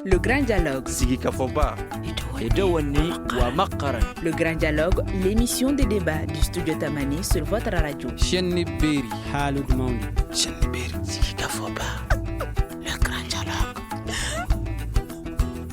Le Grand Dialogue. Sigi Kafoba. Edewani Wamakaran. Le Grand Dialogue, l'émission de débat du studio Tamani sur votre radio. Chenni Beri. Halud Maundi. Chenni Beri. Sigi Kafoba. Le Grand Dialogue.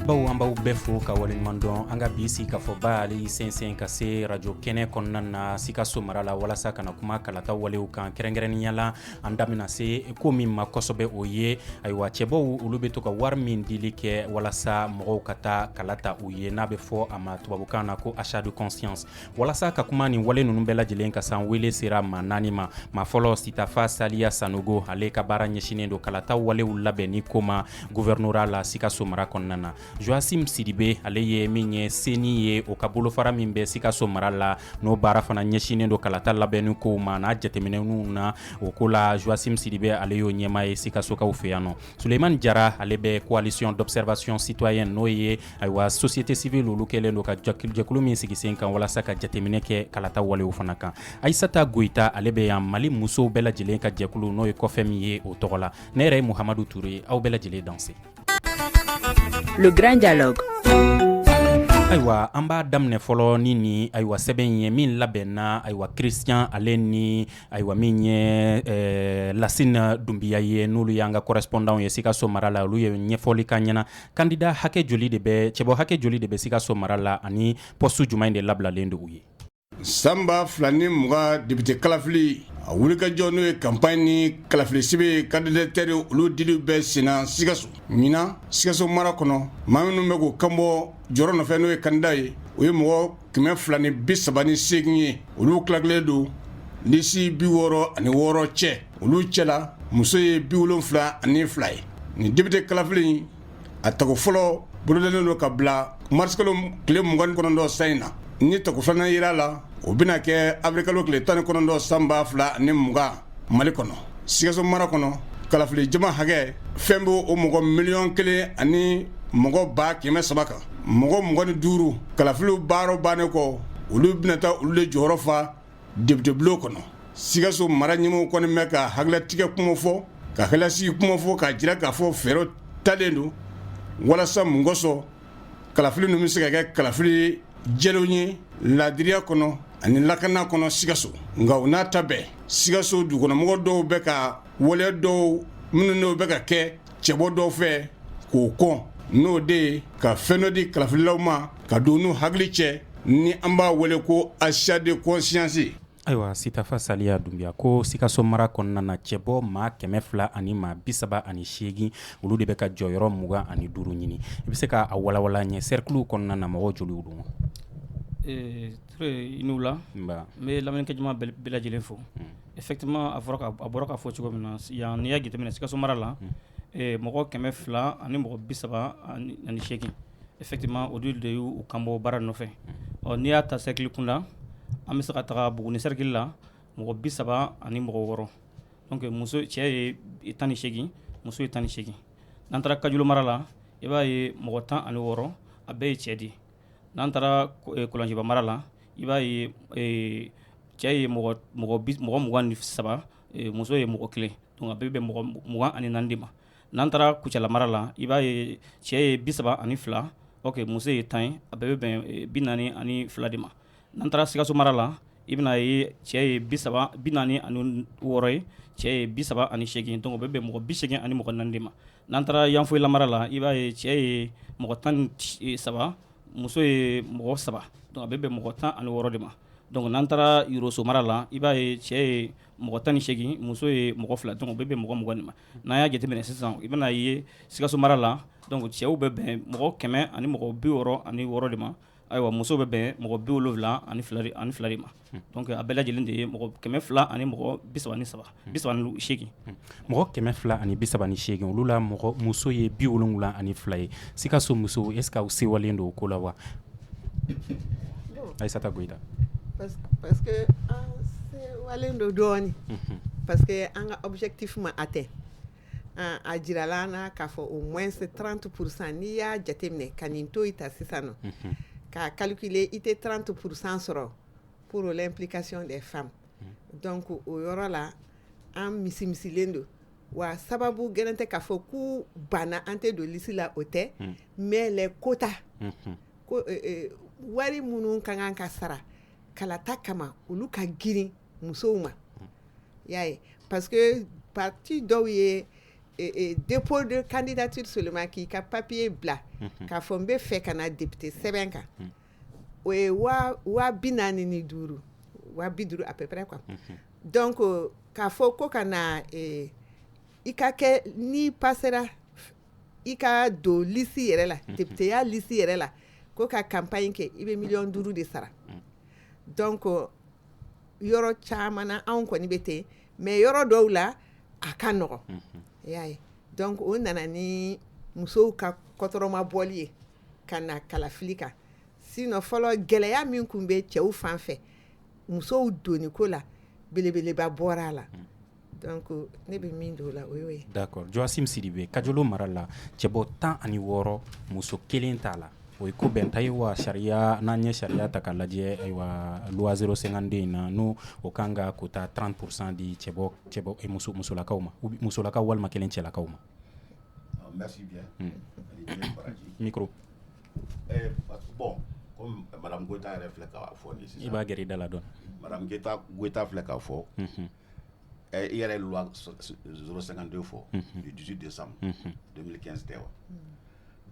baw an b'aw bɛɛ fo ka waleɲuman dɔn an ka bi sigikafɔba ale y'i sɛnsɛn ka se rajo kɛnɛ kɔnɔna na sikaso mara la walasa ka na kuma kalata walew kan kɛrɛnkɛrɛnnenya la an da bɛna se ko min ma kosɛbɛ o ye ayiwa cɛbɔw olu bɛ to ka wari min dili kɛ walasa mɔgɔw ka taa kala ta u ye n'a bɛ fɔ a ma tubabukan na ko achat de conscience walasa ka kuma nin wale ninnu bɛɛ lajɛlen kan sa wele sera maa naani ma maa fɔlɔ sitafa saliya sanogo ale ka baara ɲɛsinnen don kalata walew labɛnni ko ma gouvernorat la sikaso mara kɔnɔna na joasim sidibe ale ye min ye CENI ye o ka bolofara min bɛ sikaso mara la n'o baara fana ɲɛsinnen don kalata labɛnni kow ma n'a jateminɛw na o ko la joasim sidibe ale y'o ɲɛmaa ye sikasokaw fɛ yan nɔ suleiman jara ale bɛ coalition d'observation citoyenne n'o ye ayiwa société civile olu kɛlen don ka jɛkulu min sigi sen kan walasa ka jateminɛ kɛ kalata walew fana kan aisata goyita ale bɛ yan mali musow bɛɛ lajɛlen ka jɛkulu n'o ye COFEM ye o tɔgɔ la ne yɛrɛ ye muhamadu ture aw bɛɛ lajɛlen danse Le grand dialogue ayiwa an b'a daminɛ fɔlɔ ni ni ayiwa sɛbɛn in ye min labɛnna ayiwa christian ale ni ayiwa min ye eh, lasina dunbiya ye n'olu y'an ka correspondant ye sikaso mara la olu ye ɲɛfɔli k'an ɲɛ na kandida hakɛ joli de bɛ cɛbɔ hakɛ joli de bɛ sikaso mara la ani pɔstu jumɛn de labilalen don u ye san ba fila ni mugan depite kalafili a wulikajɔ n'o ye kanpaɲi ni kalafilisɛbɛn kandidatiri olu dili bɛ senna sikaso ɲinan sikaso mara kɔnɔ maa minnu bɛ k'u kanbɔ jɔyɔrɔ nɔfɛ n'o ye kandida ye u ye mɔgɔ kɛmɛ fila ni bi saba ni segin ye olu tilatilen don lisi bi wɔɔrɔ ani wɔɔrɔ cɛ olu cɛla muso ye bi wolonfila ani fila ye nin depite kalafili a tako fɔlɔ bolodalen don ka bila marisikalo tile mugan ni kɔnɔntɔn san in na ni tako filanan yera a la o bɛna kɛ awirilikalo tile tan ni kɔnɔntɔn san ba fila ni mugan mali kɔnɔ sikaso mara kɔnɔ kalafili jama hakɛ fɛn bɛ o mɔgɔ miliyɔn kelen ani mɔgɔ ba kɛmɛ saba kan mɔgɔ mugan ni duuru kalafiliw baaraw bannen kɔ olu bɛna taa olu de jɔyɔrɔ fa depitebulon kɔnɔ sikaso mara ɲɛmɔgɔw kɔni bɛ ka hakililatigɛ kuma fɔ ka hakililasigi kuma fɔ k'a jira k'a fɔ fɛɛrɛ talen don walasa mun kosɔn kalafili ninnu bɛ se ka kɛ kalafili jɛlenw ye laadiriya kɔnɔ ani lakana kɔnɔ sikaso nka o n'a ta bɛɛ sikaso dugukɔnɔmɔgɔ dɔw bɛ ka waleya dɔw minnu n'o bɛ ka kɛ cɛbɔ dɔw fɛ k'o kɔn n'o de ye ka fɛn dɔ di kalafililaw ma ka don n'u hakili cɛ ni an b'a wele ko achat de conscience ayiwa sitafa saliya dunbiya ko sikaso mara kɔnɔna na cɛbɔ maa kɛmɛ fila ani maa bisaba ani seegin olu de bɛ ka jɔyɔrɔ mugan ani duuru ɲini i bɛ se k'a walawala an ɲɛ cercle kɔnɔna na mɔgɔ joli don i ni wula n bɛ lamɛnnikɛ jama bɛɛ lajɛlen fo Effectivement a bɔra k'a fɔ cogo min na yan n'i y'a jateminɛ Sikaso mara la. Unhun. Ɛɛ mɔgɔ 200 ani mɔgɔ 38 effectivement olu de y'u kanbɔ baara nɔfɛ. Unhun. Ɔ n'i y'a ta cercle kunda an bɛ se ka taga Buguni cercle la mɔgɔ 30 ani mɔgɔ 6 donc muso cɛ ye 18 muso ye 18 n'an taara Kajolo mara la i b'a ye mɔgɔ 16 a bɛɛ ye cɛ de ye. N'an taara kɔlɔnjiba mara la i b'a ye cɛ ye mɔgɔ mɔgɔ mugan ni saba muso ye mɔgɔ kelen donc a bɛ bɛn mɔgɔ mugan ani naani de ma n'an taara kucala mara la i b'a ye cɛ ye bi saba ani fila ok muso ye tan ye a bɛɛ bɛ bɛn bi naani ani fila de ma N'an taara sikaso mara la i bɛna ye cɛ ye bi saba bi naani ani wɔɔrɔ ye cɛ ye bi saba ani segin donc o bɛ bɛn mɔgɔ bi segin ani mɔgɔ naani de ma n'an taara yanfoyila mara la i b'a ye cɛ ye mɔgɔ tan ni saba muso ye mɔgɔ saba a bɛ bɛn mɔgɔ tan ani wɔɔrɔ de ma donc n'an taara yɔrɔso mara la i b'a ye cɛ ye mɔgɔ tan ni segin muso ye mɔgɔ fila donc o bɛ bɛn mɔgɔ mugan de ma n'an y'a jateminɛ sisan i bɛna ye sikaso mara la cɛw bɛ bɛn mɔgɔ kɛmɛ ani mɔgɔ bi wɔɔrɔ ani wɔɔrɔ de ma Ayiwa muso bɛ bɛn mɔgɔ bi wolowula ani fila de ma donc a bɛɛ lajɛlen de ye mɔgɔ kɛmɛ fila ani mɔgɔ bi saba ni segin mɔgɔ kɛmɛ fila ani bi saba ni segin olu la mɔgɔ muso ye bi wolowula ani fila ye sikaso muso est-ce que aw sewalen don o ko la wa ayisata goyita an sewalen don dɔɔnin parce que an ka objectif ma atteint a jirala an na k'a fɔ au moins trente pour cent n'i y'a jateminɛ ka nin to i ta sisan nɔ ka calculer i tɛ trente pour cent sɔrɔ pour l'implication des femmes donc o yɔrɔ la an misimisilen don wa sababu gɛlɛn tɛ k'a fɔ k'u banna an tɛ don lisi la o tɛ mais les quotas wari minnu ka kan ka sara kalata kama olu ka girin musow ma y'a ye parce que parti dɔw ye dépôt de candidature seulement k'i ka papier bila k'a fɔ n bɛ fɛ ka na député sɛbɛn kan o ye waa bi naani ni duuru waa bi duuru à peu près quoi donc k'a fɔ ko ka na i ka kɛ n'i passera i ka don liste yɛrɛ la députéya liste yɛrɛ la ko ka campagne kɛ i bɛ miliyɔn duuru de sara donc yɔrɔ caman na anw kɔni bɛ ten mais yɔrɔ dɔw la a ka nɔgɔ y'a ye donc o nana ni musow ka kɔtɔrɔma bɔli ye ka na kalafili kan sinon fɔlɔ gɛlɛya min tun bɛ cɛw fan fɛ musow donni ko la belebeleba bɔra a la Donc ne bɛ min dɔn o la o y'o ye d'accord Joachim Sidibe Kajolo mara la cɛbɔ tan ani wɔɔrɔ muso kelen t'a la o ye ko bɛnta ye wa sariya n'an ye sariya ta k'a lajɛ ayiwa loi 052 in na n'o o kan ka quota 30 pour cent di cɛbɔ cɛbɔ muso musolakaw ma musolakaw walima kelen cɛlakaw ma bon i b'a gɛrɛ i da la dɔɔnin filɛ k'a fɔ ɛ i yɛrɛ ye loi 052 fɔ du 18 décembre 2015 tɛ wa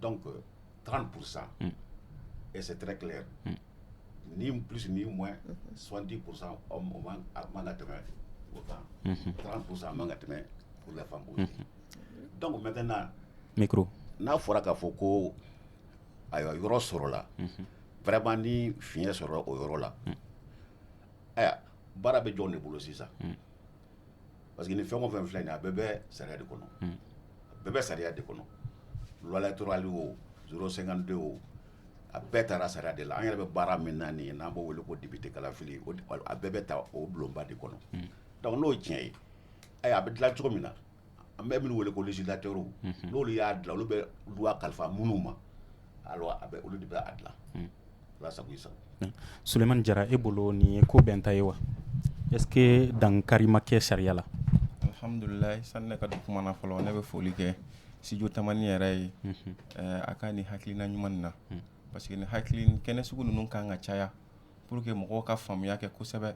donc 30 pour cent et c'est très clair ni plus ni moins 70 pour cent hommes a man ka tɛmɛ o kan 30 pour cent a man ka tɛmɛ pour les femmes aussi donc maintenant micro n'a fɔra k'a fɔ ko ayiwa yɔrɔ sɔrɔla vraiment ni fiɲɛ sɔrɔla o yɔrɔ la ayiwa baara bɛ jɔn de bolo sisan hmm. parce que ni fɛn o fɛn filɛ nin a bɛɛ bɛ sariya de kɔnɔ hmm. a bɛɛ bɛ sariya de kɔnɔ loi électorale o 052 o a bɛɛ tara sariya de la an yɛrɛ bɛ baara min na nin ye n'an b'o wele ko député kalafili a bɛɛ bɛ ta o bulonba de kɔnɔ hmm. donc n'o tiɲɛ ye ayiwa a bɛ dilan cogo min na An bɛ min wele ko législateur unhun, n'olu y'a dilan olu bɛ loi kalifa minnu ma alors a bɛ olu de bɛ a dilan, unhun, Ala sago i sago, Sulemani Jara e bolo nin ye ko bɛnta ye wa est ce que dankari ma kɛ sariya la? Alhamdulilayi sani ne ka don kuma na fɔlɔ ne bɛ foli kɛ studio tamani yɛrɛ ye, unhun, a ka nin hakilina ɲuman in na parce que nin hakili kɛnɛ sugu ninnu ka kan ka caya pour que mɔgɔw ka faamuya kɛ kosɛbɛ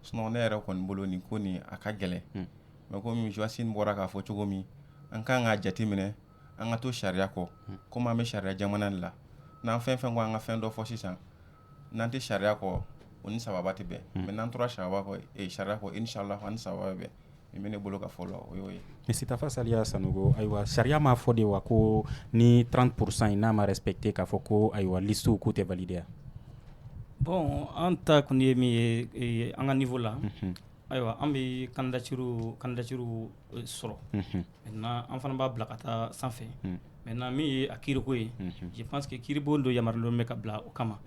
sinon ne yɛrɛ kɔni bolo nin ko nin a ka gɛlɛn hmm. mais comme Joachim bɔra k'a fɔ cogo min an kan k'a jateminɛ an ka to sariya kɔ hmm. komi an bɛ sariya jamana de la n'an fɛn fɛn ko an ka fɛn dɔ fɔ sisan n'an tɛ sariya kɔ o ni sababa tɛ bɛn hmm. mais n'an tora sariya kɔ eh, sariya kɔ inchallah an ni sababa bɛ bɛn min bɛ ne bolo ka fɔ la o y'o ye Misitafa Saliya Sanogo ayiwa sariya m'a fɔ de wa ko ni 30 pour cent in n'a ma respecté k'a fɔ ko ayiwa listew k'u tɛ valider yan bon an ta kɔni ye min ye an ka niveau la ayiwa an bɛ candidature candidature sɔrɔ maintenant an fana b'a bila ka taa sanfɛ Maintenant min ye a kiiriko ye je pense que kiiribon dɔ yamaruyalen bɛ ka bila o kama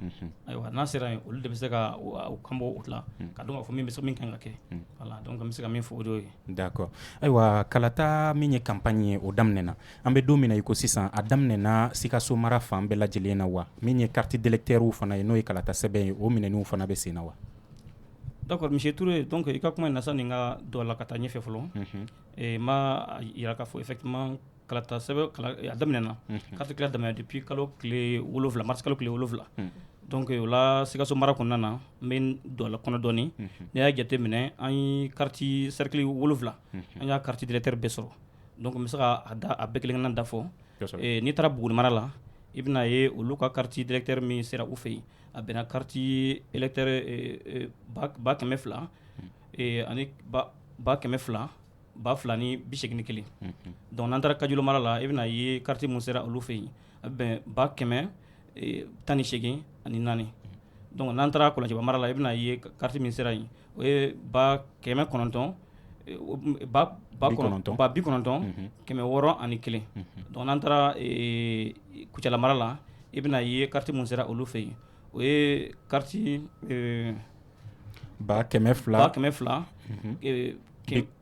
ayiwa n'a sera yen olu de bɛ se ka kanbɔ o la ka dɔn k'a fɔ min bɛ min kan ka kɛ voilà donc n bɛ se ka min fɔ o de ye d'accord ayiwa kalata min ye campagne ye o daminɛna an bɛ don min na i ko sisan a daminɛna sikaso mara fan bɛɛ lajɛlen na wa min ye kariti d'électeur fana ye n'o ye kalata sɛbɛn ye o minɛniw fana bɛ sen na wa d'accord monsieur Touré donc i ka kuma na sani n ka don a la ka taa ɲɛfɛ fɔlɔ n b'a jira k'a fɔ i kalata a daminɛna kariti tila daminɛ depuis kalo tile wolowula mars kalo tile wolowula donc o la sikaso mara kɔnɔna na n bɛ don a kɔnɔ dɔɔni n y'a jate minɛ an ye kariti sɛrikili wolowula an y'a kariti d'électeur bɛɛ sɔrɔ donc n bɛ se ka a bɛɛ kelen-kelenna da fɔ n'i taara buguni mara la i bɛna ye olu ka kariti d'électeur min sera u fɛ yen a bɛnna kariti électeur ba kɛmɛ fila ani ba kɛmɛ fila ba fila ni bi segin ni kelen donc n'an taara kajolo mara la i bɛna ye kariti min sera olu fɛ yen a bɛ bɛn ba kɛmɛ tan ni segin ani naani donc n'an taara kɔlɔnjɛba mara la i bɛna ye kariti min sera yen o ye ba kɛmɛ kɔnɔntɔn ba bi kɔnɔntɔn kɛmɛ wɔɔrɔ ani kelen donc n'an taara kucala mara la i bɛna ye kariti min sera olu fɛ yen o ye kariti ba kɛmɛ fila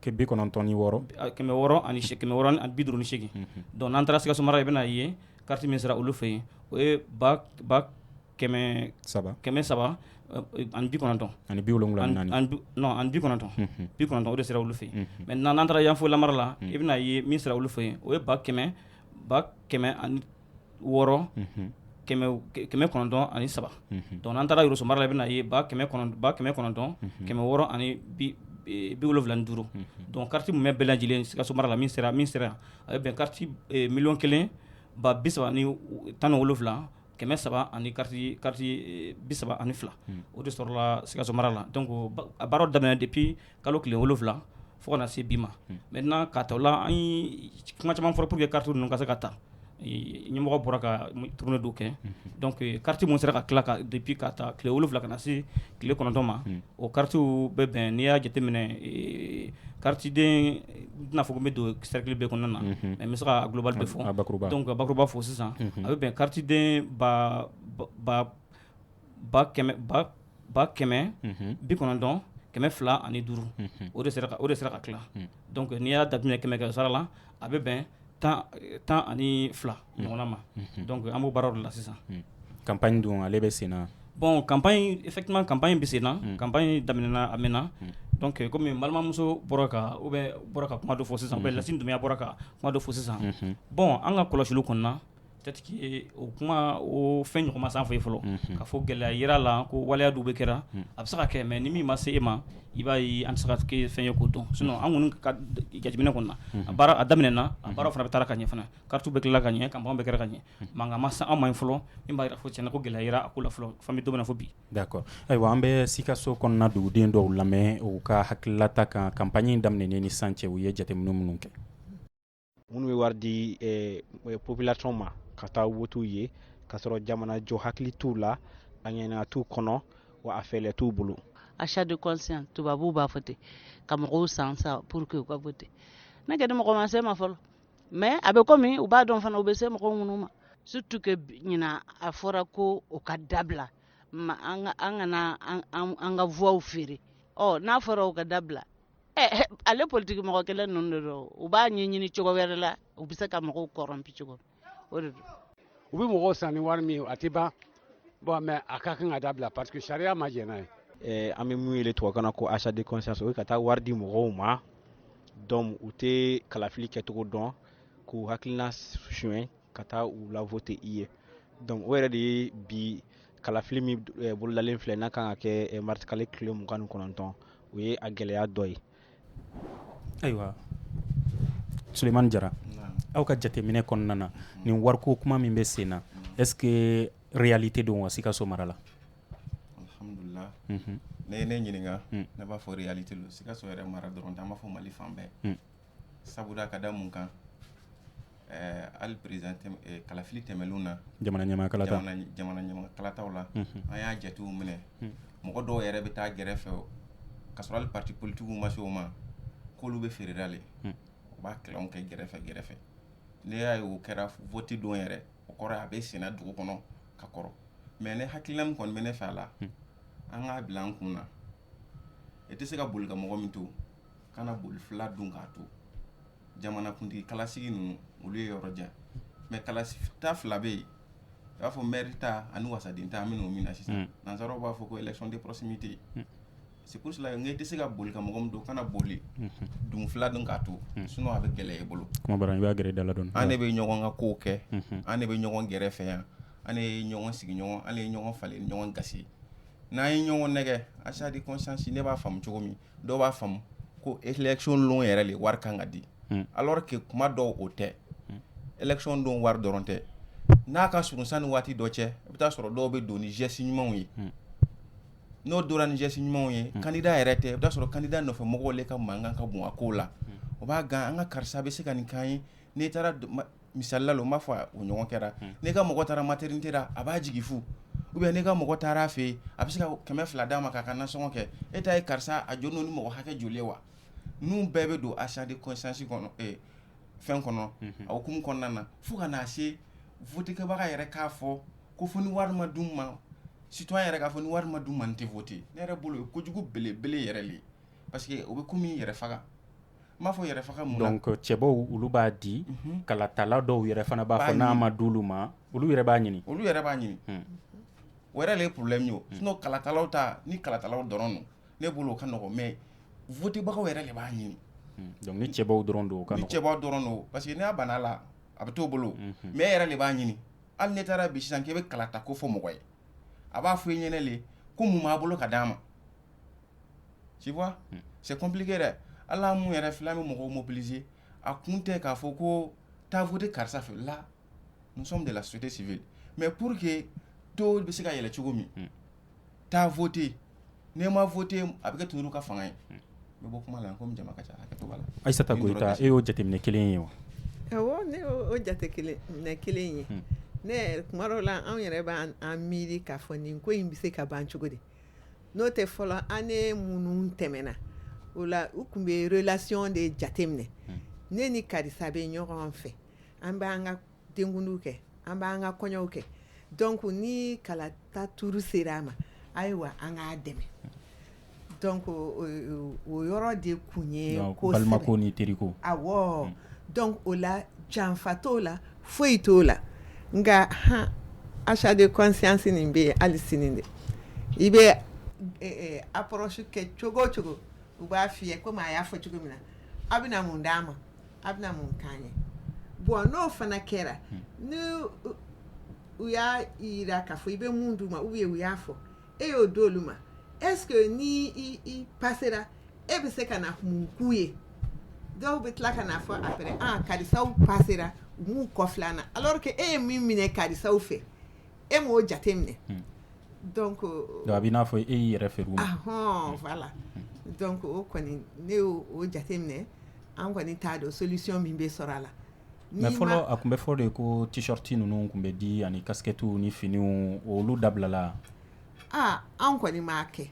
kɛ bi kɔnɔntɔn ni wɔɔrɔ kɛmɛ wɔɔrɔ ani kɛmɛ wɔɔrɔ ani bi duuru ni segin donc n'an taara sikaso mara i bɛna a ye kariti min sera olu fɛ yen o ye ba kɛmɛ saba kɛmɛ saba ani bi kɔnɔntɔn ani bi wolowula non ani bi kɔnɔntɔn bi kɔnɔntɔn o de sera olu fɛ yen mais n'an taara yanfolila mara la i bɛna a ye min sera olu fɛ yen o ye ba kɛmɛ ba kɛmɛ wɔɔrɔ kɛmɛ kɔnɔntɔn ani saba donc n'an taara yɔrɔso mara la i bɛna a ye ba kɛmɛ kɔnɔntɔn kɛmɛ wɔɔrɔ ani bi wolofila ni duuru donc kariti mumɛ bɛɛ lajɛlen sikaso mara la min sera yan a bɛ bɛn kariti miliyɔn kelen ba bi saba ani tan ni wolofila kɛmɛ saba ani kariti bi saba ani fila o de sɔrɔla sikaso mara la donc a baara daminɛ depuis kalo tile wolonwula fo ka na se bi ma maintenant k'a ta o la an kuma caman fɔra pour que kariti ninnu ka se ka ta ɲɛmɔgɔw bɔra ka tournée dɔw kɛ donc kariti minnu sera ka tila ka depuis k'a ta tile wolowula ka na se tile kɔnɔntɔn ma o karitiw bɛ bɛn n'i y'a jateminɛ karitiden n tɛn'a fɔ ko n bɛ don sɛrikili bɛɛ kɔnɔna na mais n bɛ se ka global bɛɛ fɔ donc a bakuruba fo sisan a bɛ bɛn karitiden ba ba kɛmɛ bi kɔnɔntɔn kɛmɛ fila ani duuru o de o de sera ka tila dɔnku n'i y'a jateminɛ kɛmɛ kɛ sara la a bɛ bɛn tan ani fila ɲɔgɔnna ma dɔnku an b'o baaraw de la sisan campagne dun ale bɛ sen na bɔn campagne effectivement campagne bɛ sen na campagne daminɛna a mɛnna dɔnku kɔmi balimamuso bɔra ka o bɛ bɔra ka kuma dɔ fɔ sisan ou bien lasine dumbuya bɔra ka kuma dɔ fɔ sisan bɔn an ka kɔlɔsiliw kɔnɔna peut-être que o kuma o fɛn ɲɔgɔn ma s'an fɛ yen fɔlɔ ka fɔ gɛlɛya jirala ko waleya jugu bɛ kɛra a bɛ se ka kɛ mɛ ni min ma se e ma i b'a ye an tɛ se ka kɛ fɛn ye k'o dɔn sinon an kɔni ka jateminɛ kɔnɔ a a daminɛna a baara fana bɛ taara ka ɲɛ fana karti bɛ tilala ka ɲɛ campagne bɛ kɛra ka ɲɛ mankan ma se an ma yen fɔlɔ min b'a fɔ cɛn ko gɛlɛya yera a ko la fɔlɔ bɛ to fo bi d'accord ayiwa an bɛ sikaso kɔnɔna duguden dɔw lamɛn u ka hakililata kan campagne daminɛnen ni sisan cɛ u ye jateminɛ minnu kɛ minnu bɛ wari di eh, eh, population ma ka taa wote u ye k'a sɔrɔ jamana jɔ hakili t'u la a ŋaniya t'u kɔnɔ wa a fɛɛlɛ t'u bolo achat de conscience tubabuw b'a fɔ ten ka mɔgɔw san sa pour que u ka vote ne kɔni mɔgɔ ma se n ma fɔlɔ mais a bɛ komi u b'a dɔn fana u bɛ se mɔgɔ minnu ma surtout que ɲinan a fɔra ko o ka dabila ma an ka an kana an ka voix feere ɔ n'a fɔra o ka dabila ale politigi mɔgɔ kelen ninnu de don u b'a ɲɛ ɲini cogo wɛrɛ la u bɛ se ka mɔgɔw corrompu cogo o de don u bɛ mɔgɔw san ni wari min a tɛ ban bɔn mɛ a ka kan ka dabila parce que sariya ma jɛn n'a ye eh, an bɛ mun wele tubabukan na ko achat de conscience o ye ka taa wari di mɔgɔw ma donc u tɛ kalafili kɛcogo dɔn k'u hakilina suɲɛ ka taa u lavote i ye dɔnku o yɛrɛ de ye bi kalafili min eh, bololalen filɛ n'a kan ka kɛ eh, marisikalo tile mugan ni kɔnɔntɔn o ye a gɛlɛya dɔ ye ayiwa sulemani jara aw ka jateminɛ kɔnɔna na nin wariko kuma min bɛ sen na est ce que réalité don wa sikaso mara la alhamdulillah mhm. n'i ye ne ɲininka hmm. ne b'a fɔ réalité lo sikaso yɛrɛ mara dɔrɔn tɛ an b'a fɔ mali fan bɛɛ hmm. sabula ka da mun kan hali président kalafili tɛmɛnenw na jamana ɲɛmaa kalataw la an y'a jatew minɛ mɔgɔ dɔw yɛrɛ bɛ taa gɛrɛfɛ ka sɔrɔ hali pati politigiw ma se o ma k'olu bɛ feerela de u b'a kɛ kɛ gɛrɛfɛ gɛrɛfɛ ne y'a ye o kɛra vote don yɛrɛ o kɔrɔ a bɛ senna dugu kɔnɔ ka kɔrɔ mɛ ne hakilila min kɔni bɛ ne fɛ a la an k'a bila an kun na e tɛ se ka boli ka mɔgɔ min to kana boli fila dun k'a to jamanakuntigi kalasigi ninnu olu ye yɔrɔ jan mais kalata fila bɛ yen u b'a fɔ maire ta ani wasaden ta an bɛ don min na sisan nansaraw b'a fɔ ko élection de proximité c'est pour cela n tɛ se ka boli ka mɔgɔ min to kana boli dun fila dun k'a to sinon a bɛ gɛlɛya e bolo gɛrɛ dala dɔɔni an de bɛ ɲɔgɔn ka ko kɛ an de bɛ ɲɔgɔn gɛrɛ fɛ yan an ye ɲɔgɔn sigiɲɔgɔn an ye ɲɔgɔn falen ɲɔgɔn ga n'an ye ɲɔgɔn nɛgɛ achat de conscience ne b'a faamu cogo min dɔw b'a faamu ko élection don yɛrɛ de wari kan ka di alors que kuma dɔw o tɛ élection don wari dɔrɔn tɛ n'a ka surun sanni waati dɔ cɛ i bɛ taa sɔrɔ dɔw bɛ don ni geste ɲumanw ye n'o donna ni geste ɲumanw ye candidat yɛrɛ tɛ i bɛ taa sɔrɔ candidat nɔfɛ mɔgɔw de ka mankan ka bon a kow la o b'a gan an ka karisa bɛ se ka nin k'an ye n'i taara misali la n b'a fɔ o ɲɔgɔn kɛra n'i ka mɔgɔ taara maternité la a b'a jigin fu ou bien n'i ka mɔgɔ taara a fɛ a bɛ se ka kɛmɛ fila d'a ma k'a ka nasɔngɔ kɛ e ta ye karisa a jɔn ni mɔgɔ hakɛ joli wa ninnu bɛɛ bɛ don achat de conscience kɔnɔ fɛn kɔnɔ a hukumu kɔnɔna na fo ka n'a se votekɛbaga yɛrɛ k'a fɔ ko fo ni wari ma d'u ma citoyen yɛrɛ k'a fɔ ni wari ma di n ma n tɛ voter ne yɛrɛ bolo ye ko kojugu belebele yɛrɛ de ye parce que o bɛ komi yɛrɛ faga N b'a fɔ yɛrɛ faga mun na? donc cɛbɔw olu b'a di kalatala dɔw yɛrɛ fana b'a fɔ n'a ma d'olu ma olu yɛrɛ b'a ɲini, olu yɛrɛ b'a ɲini o yɛrɛ de ye problème ye o sinon kalatalaw ta ni kalatalaw dɔrɔn don ne bolo o ka nɔgɔn mais votebagaw yɛrɛ de b'a ɲini donc ni cɛbɔw dɔrɔn don o ka nɔgɔn, ni cɛbɔw dɔrɔn don parce que n'a banna a la a bɛ t'o bolo mais e yɛrɛ de b'a ɲini hali n'i taara bi sisan k'i bɛ kalata ko fɔ mɔgɔ ye a b'a fɔ i ɲɛna de ko mun b'a bolo ka d'a ma tu vois c'est compliqué dɛ ala mun yɛrɛ filɛ an bɛ mɔgɔw mobiliser a kun tɛ k'a fɔ ko taa voter karisa fɛ là nous sommes de la société civile mais pour que taux bɛ se ka yɛlɛ cogo min taa voter n'i ma voter a bɛ kɛ tu ka fanga ye n bɛ bɔ kuma la komi jama ka ca Aïssata Goïta e y'o jateminɛ kelen ye wa awɔ ne y'o jateminɛ kelen ye ne kuma la anw yɛrɛ b'an miiri k'a fɔ nin ko in bɛ se ka ban cogo di n'o tɛ fɔlɔ an ne minnu tɛmɛna o la u tun bɛ relation de jateminɛ ne ni karisa bɛ ɲɔgɔn fɛ an b'an ka denkundiw kɛ an b'an ka kɔɲɔw kɛ donc ni kalata tour sera a ma ayiwa an k'a dɛmɛ donc o yɔrɔ de tun ye kosɛbɛ balimako ni teriko awɔ donc o la janfa t'o la foyi t'o la nka han achat de conscience nin bɛ yen hali sini dɛ i bɛ approche kɛ cogo o cogo u b'a f'i ye komi a y'a fɔ cogo min na a bɛna mun d'an ma a bɛna mun k'an ye bon n'o fana kɛra ni u y'a jira k'a fɔ i bɛ mun d'u ma ou bien u y'a fɔ e y'o d'olu ma est ce que ni i passera e bɛ se ka na mun k'u ye dɔw bɛ tila ka n'a fɔ après karisaw passera u m'u kɔfilɛ an na alors que e ye min minɛ karisaw fɛ e m'o jate minɛ donc donc a bɛ i n'a fɔ e y'i yɛrɛ feere u ma, anhan, voilà donc o kɔni ne y'o jate minɛ an kɔni t'a dɔn solution min bɛ sɔrɔ a la mais fɔlɔ a tun bɛ fɔ de ko tee-shirt ninnu tun bɛ di ani casquettes ni finiw olu dabilala wa anw kɔni m'a kɛ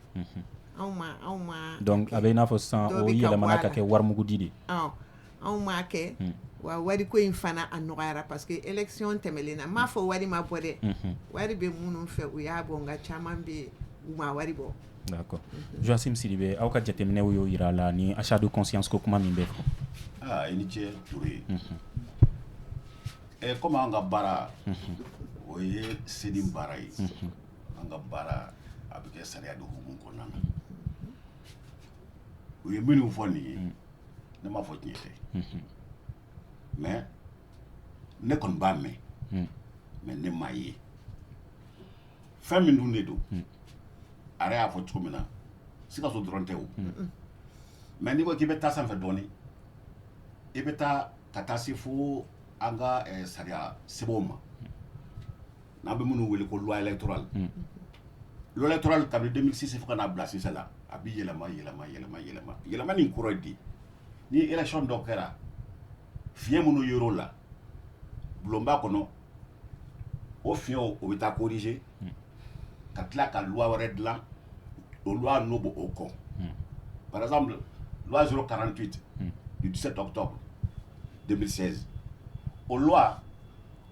anw ma donc a bɛ i n'a fɔ sisan o yɛlɛmana ka kɛ warimugudi de anw m'a kɛ wa wari ko in fana a nɔgɔyara parce que élection tɛmɛlen na n m'a fɔ wari ma bɔ dɛ wari bɛ minnu fɛ u y'a bɔ nka caman bɛ u ma wari bɔ d'accord Joachim Sidibé aw ka jateminɛw y'o yira a la ni achat de conscience ko kuma min bɛ fɔ i ni ce Touré ɛ comme an ka baara o ye CENI baara ye an ka baara a bɛ kɛ sariya de hukumu kɔnɔna na u ye minnu fɔ nin ye ne m'a fɔ tiɲɛ tɛ mais ne kɔni b'a mɛn mais ne m'a ye fɛn min dun de don a yɛrɛ y'a fɔ cogo min na Sikaso dɔrɔn tɛ o mais n'i ko k'i bɛ taa sanfɛ dɔɔnin i bɛ taa ka taa se fo an ka eh, sariya sɛbɛnw ma n'an bɛ minnu wele ko loi électorale loi électorale kabini 2006 fo ka n'a bila sisan na a bɛ yɛlɛma yɛlɛma yɛlɛma yɛlɛma yɛlɛmani in kɔrɔ ye di ni election dɔ kɛra fiɲɛ minnu yer'o la bulonba kɔnɔ o fiɲɛw o bɛ taa corriger ka tila ka loi wɛrɛ dilan o loi n'o b'o o kɔ par exemple loi 048 du 17 octobre 2016 o loi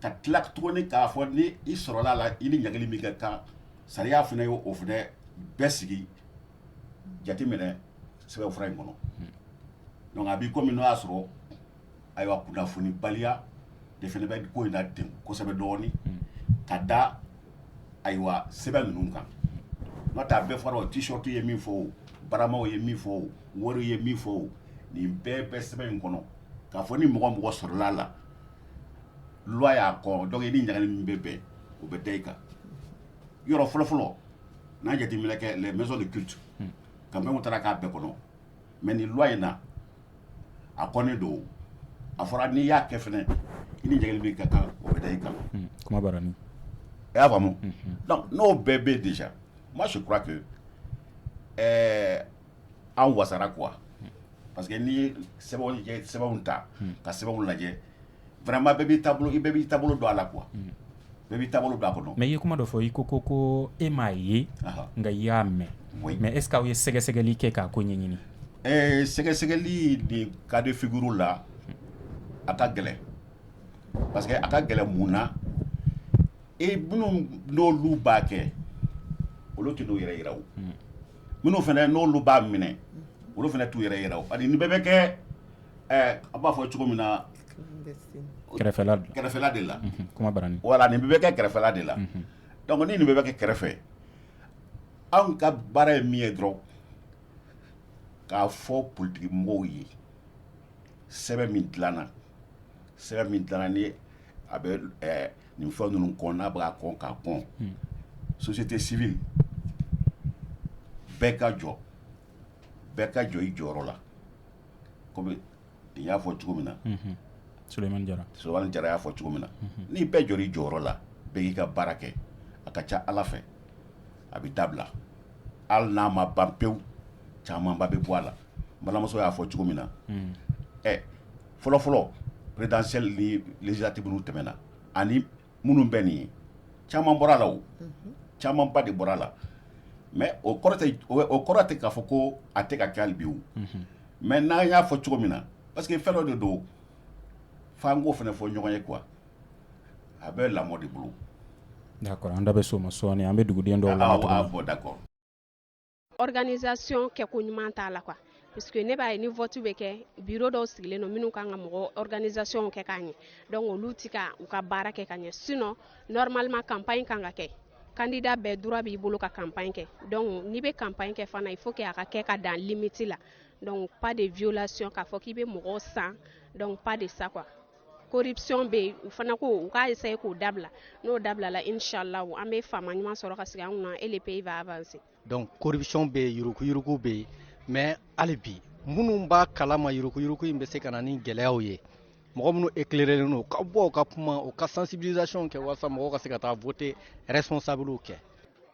ka tila tuguni k'a fɔ ni i sɔrɔla a la i ni ɲangili min ka kan sariya fana ye o fana bɛɛ sigi jateminɛ sɛbɛnfura in kɔnɔ donc a b'i komi n'o y'a sɔrɔ ayiwa kunnafoni baliya de fana bɛ ko in na ten kosɛbɛ dɔɔnin ka da ayiwa sɛbɛn ninnu kan n'o tɛ a bɛɛ fɔra o t-shirt ye min fɔ o baramaw ye min fɔ o wariw ye min fɔ o nin bɛɛ bɛ sɛbɛn in kɔnɔ k'a fɔ ni mɔgɔ mɔgɔ sɔrɔla a la loi y'a kɔn donc i ni ɲangili min bɛ bɛn o bɛ da i kan yɔrɔ fɔlɔfɔlɔ n'a jateminɛ kɛ les maisons de culte hmm. campagne taara k'a bɛɛ kɔnɔ mais nin loi in na a kɔnnen don a fɔra n'i y'a kɛ fɛnɛ i ni ɲangili min ka kan o bɛ da i kan hmm. kuma bara ni i y'a faamu hmm, donc n'o bɛɛ bɛ déjà moi je crois que ɛɛ an wasara quoi parce que n'i ye sɛbɛnw ta ka sɛbɛnw lajɛ vraiment bɛɛ b'i taabolo i bɛɛ b'i taabolo don a la quoi bɛɛ b'i taabolo don a kɔnɔ mais i ye kuma dɔ fɔ i ko ko ko e m'a ye nka i y'a mɛn mais est ce que aw ye sɛgɛsɛgɛli kɛ k'a ko ɲɛɲini ɛɛ sɛgɛsɛgɛli nin cas de figure la a ka gɛlɛn parce que a ka gɛlɛn mun na e minnu n'olu b'a kɛ olu tɛ n'u yɛrɛ yira o minnu fana n'olu b'a minɛ olu fana t'u yɛrɛ yira ani nin bɛɛ bɛ kɛ a b'a fɔ cogo min na kɛrɛfɛla de la voilà nin bɛɛ bɛ kɛ kɛrɛfɛla de la donc ni nin bɛɛ bɛ kɛ kɛrɛfɛ anw ka baara ye min ye dɔrɔn k'a fɔ politiki mɔgɔw ye sɛbɛn min dilanna sɛbɛn min dilanna ni a bɛ nin fɛn ninnu kɔn n'a bɛ ka kɔn k'a kɔn société civile bɛɛ ka jɔ bɛɛ ka jɔ i jɔyɔrɔ la kɔmi nin y'a fɔ cogo min na Sulemani Jara y'a fɔ cogo min na ni bɛɛ jɔr'i jɔyɔrɔ la bɛɛ k'i ka baara kɛ a ka ca ala fɛ a bɛ dabila hali n'a ma ban pewu camanba bɛ bɔ a la balimamuso y'a fɔ cogo min na ɛ fɔlɔfɔlɔ présidentielle ni législative ninnu tɛmɛna ani minnu bɛ nin ye caman bɔra a la o camanba de bɔra a la mais o o kɔrɔ tɛ k'a fɔ ko a tɛ ka kɛ hali bi o mais n'a y'a fɔ cogo min na parce que fɛn dɔ de don f'an k'o fana fɔ ɲɔgɔn ye quoi a bɛ lamɔ de bolo d'accord an da bɛ s'o ma sɔɔni an bɛ duguden dɔw lamɛn bon d'accord Organisation kɛ ko ɲuman t'a la quoi parce que ne b'a ye ni vote bɛ kɛ bureau dɔw sigilen don minnu kan ka mɔgɔ organisation kɛ k'a ɲɛ donc olu tɛ ka u ka baara kɛ ka ɲɛ sinon normalement campagne kan ka kɛ candidat bɛɛ droit b'i bolo ka campagne kɛ donc n'i bɛ campagne kɛ fana il faut que a ka kɛ ka dan limite la donc pas de violation k'a fɔ k'i bɛ mɔgɔw san donc pas de ça quoi corruption bɛ yen u fana ko u k'a essayer k'o dabila n'o dabilala inshallah an bɛ faama ɲuman sɔrɔ ka sigi an kunna et le pays va avancer donc corruption bɛ yen yurukuyuruku bɛ yen mais hali bi minnu b'a kalama yurukuyuruku in bɛ se ka na ni gɛlɛyaw ye mɔgɔ minnu éclairerlen don u ka bɔ u ka kuma u ka sensibilisation kɛ walasa mɔgɔw ka se ka taa voter responsablew kɛ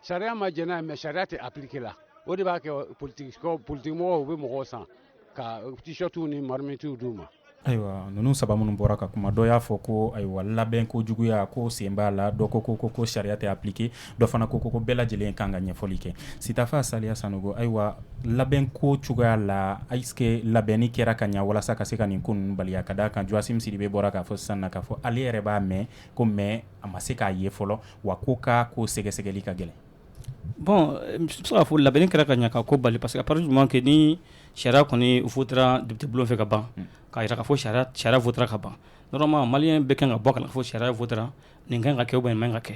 sariya ma jɛn n'a ye mais sariya tɛ appliquer la o de b'a kɛ politikimɔgɔw u bɛ mɔgɔw san ka t-shirt ni marmitiw d'u ma ayiwa ninnu saba minnu bɔra ka kuma dɔ y'a fɔ ko ayiwa labɛn ko juguya ko sen b'a la dɔ ko ko ko ko sariya tɛ appliquer dɔ fana ko ko ko bɛɛ lajɛlen kan ka ɲɛfɔli kɛ sitafa saliya sanogo ayiwa labɛn ko cogoya la est ce que labɛnni kɛra ka ɲɛ walasa ka se ka nin ko ninnu baliya ka d'a kan Joachim Sidibe bɔra k'a fɔ sisan na k'a fɔ ale yɛrɛ b'a mɛn ko mais a ma se k'a ye fɔlɔ wa ko ka ko sɛgɛsɛgɛli ka gɛlɛn Bɔn bɛ fo labɛn kɛra ka ɲɛ ka ko bali parce que paz ɲuman kɛ ni sariya kɔni fu dugutigi bulon fɛ ka ban ka jira ka fɔ sariya fu ka ban yɔrɔma mali bɛ kan ka bɔ kana fɔ sariya fu nin kan ka kɛ bɔ ka kɛ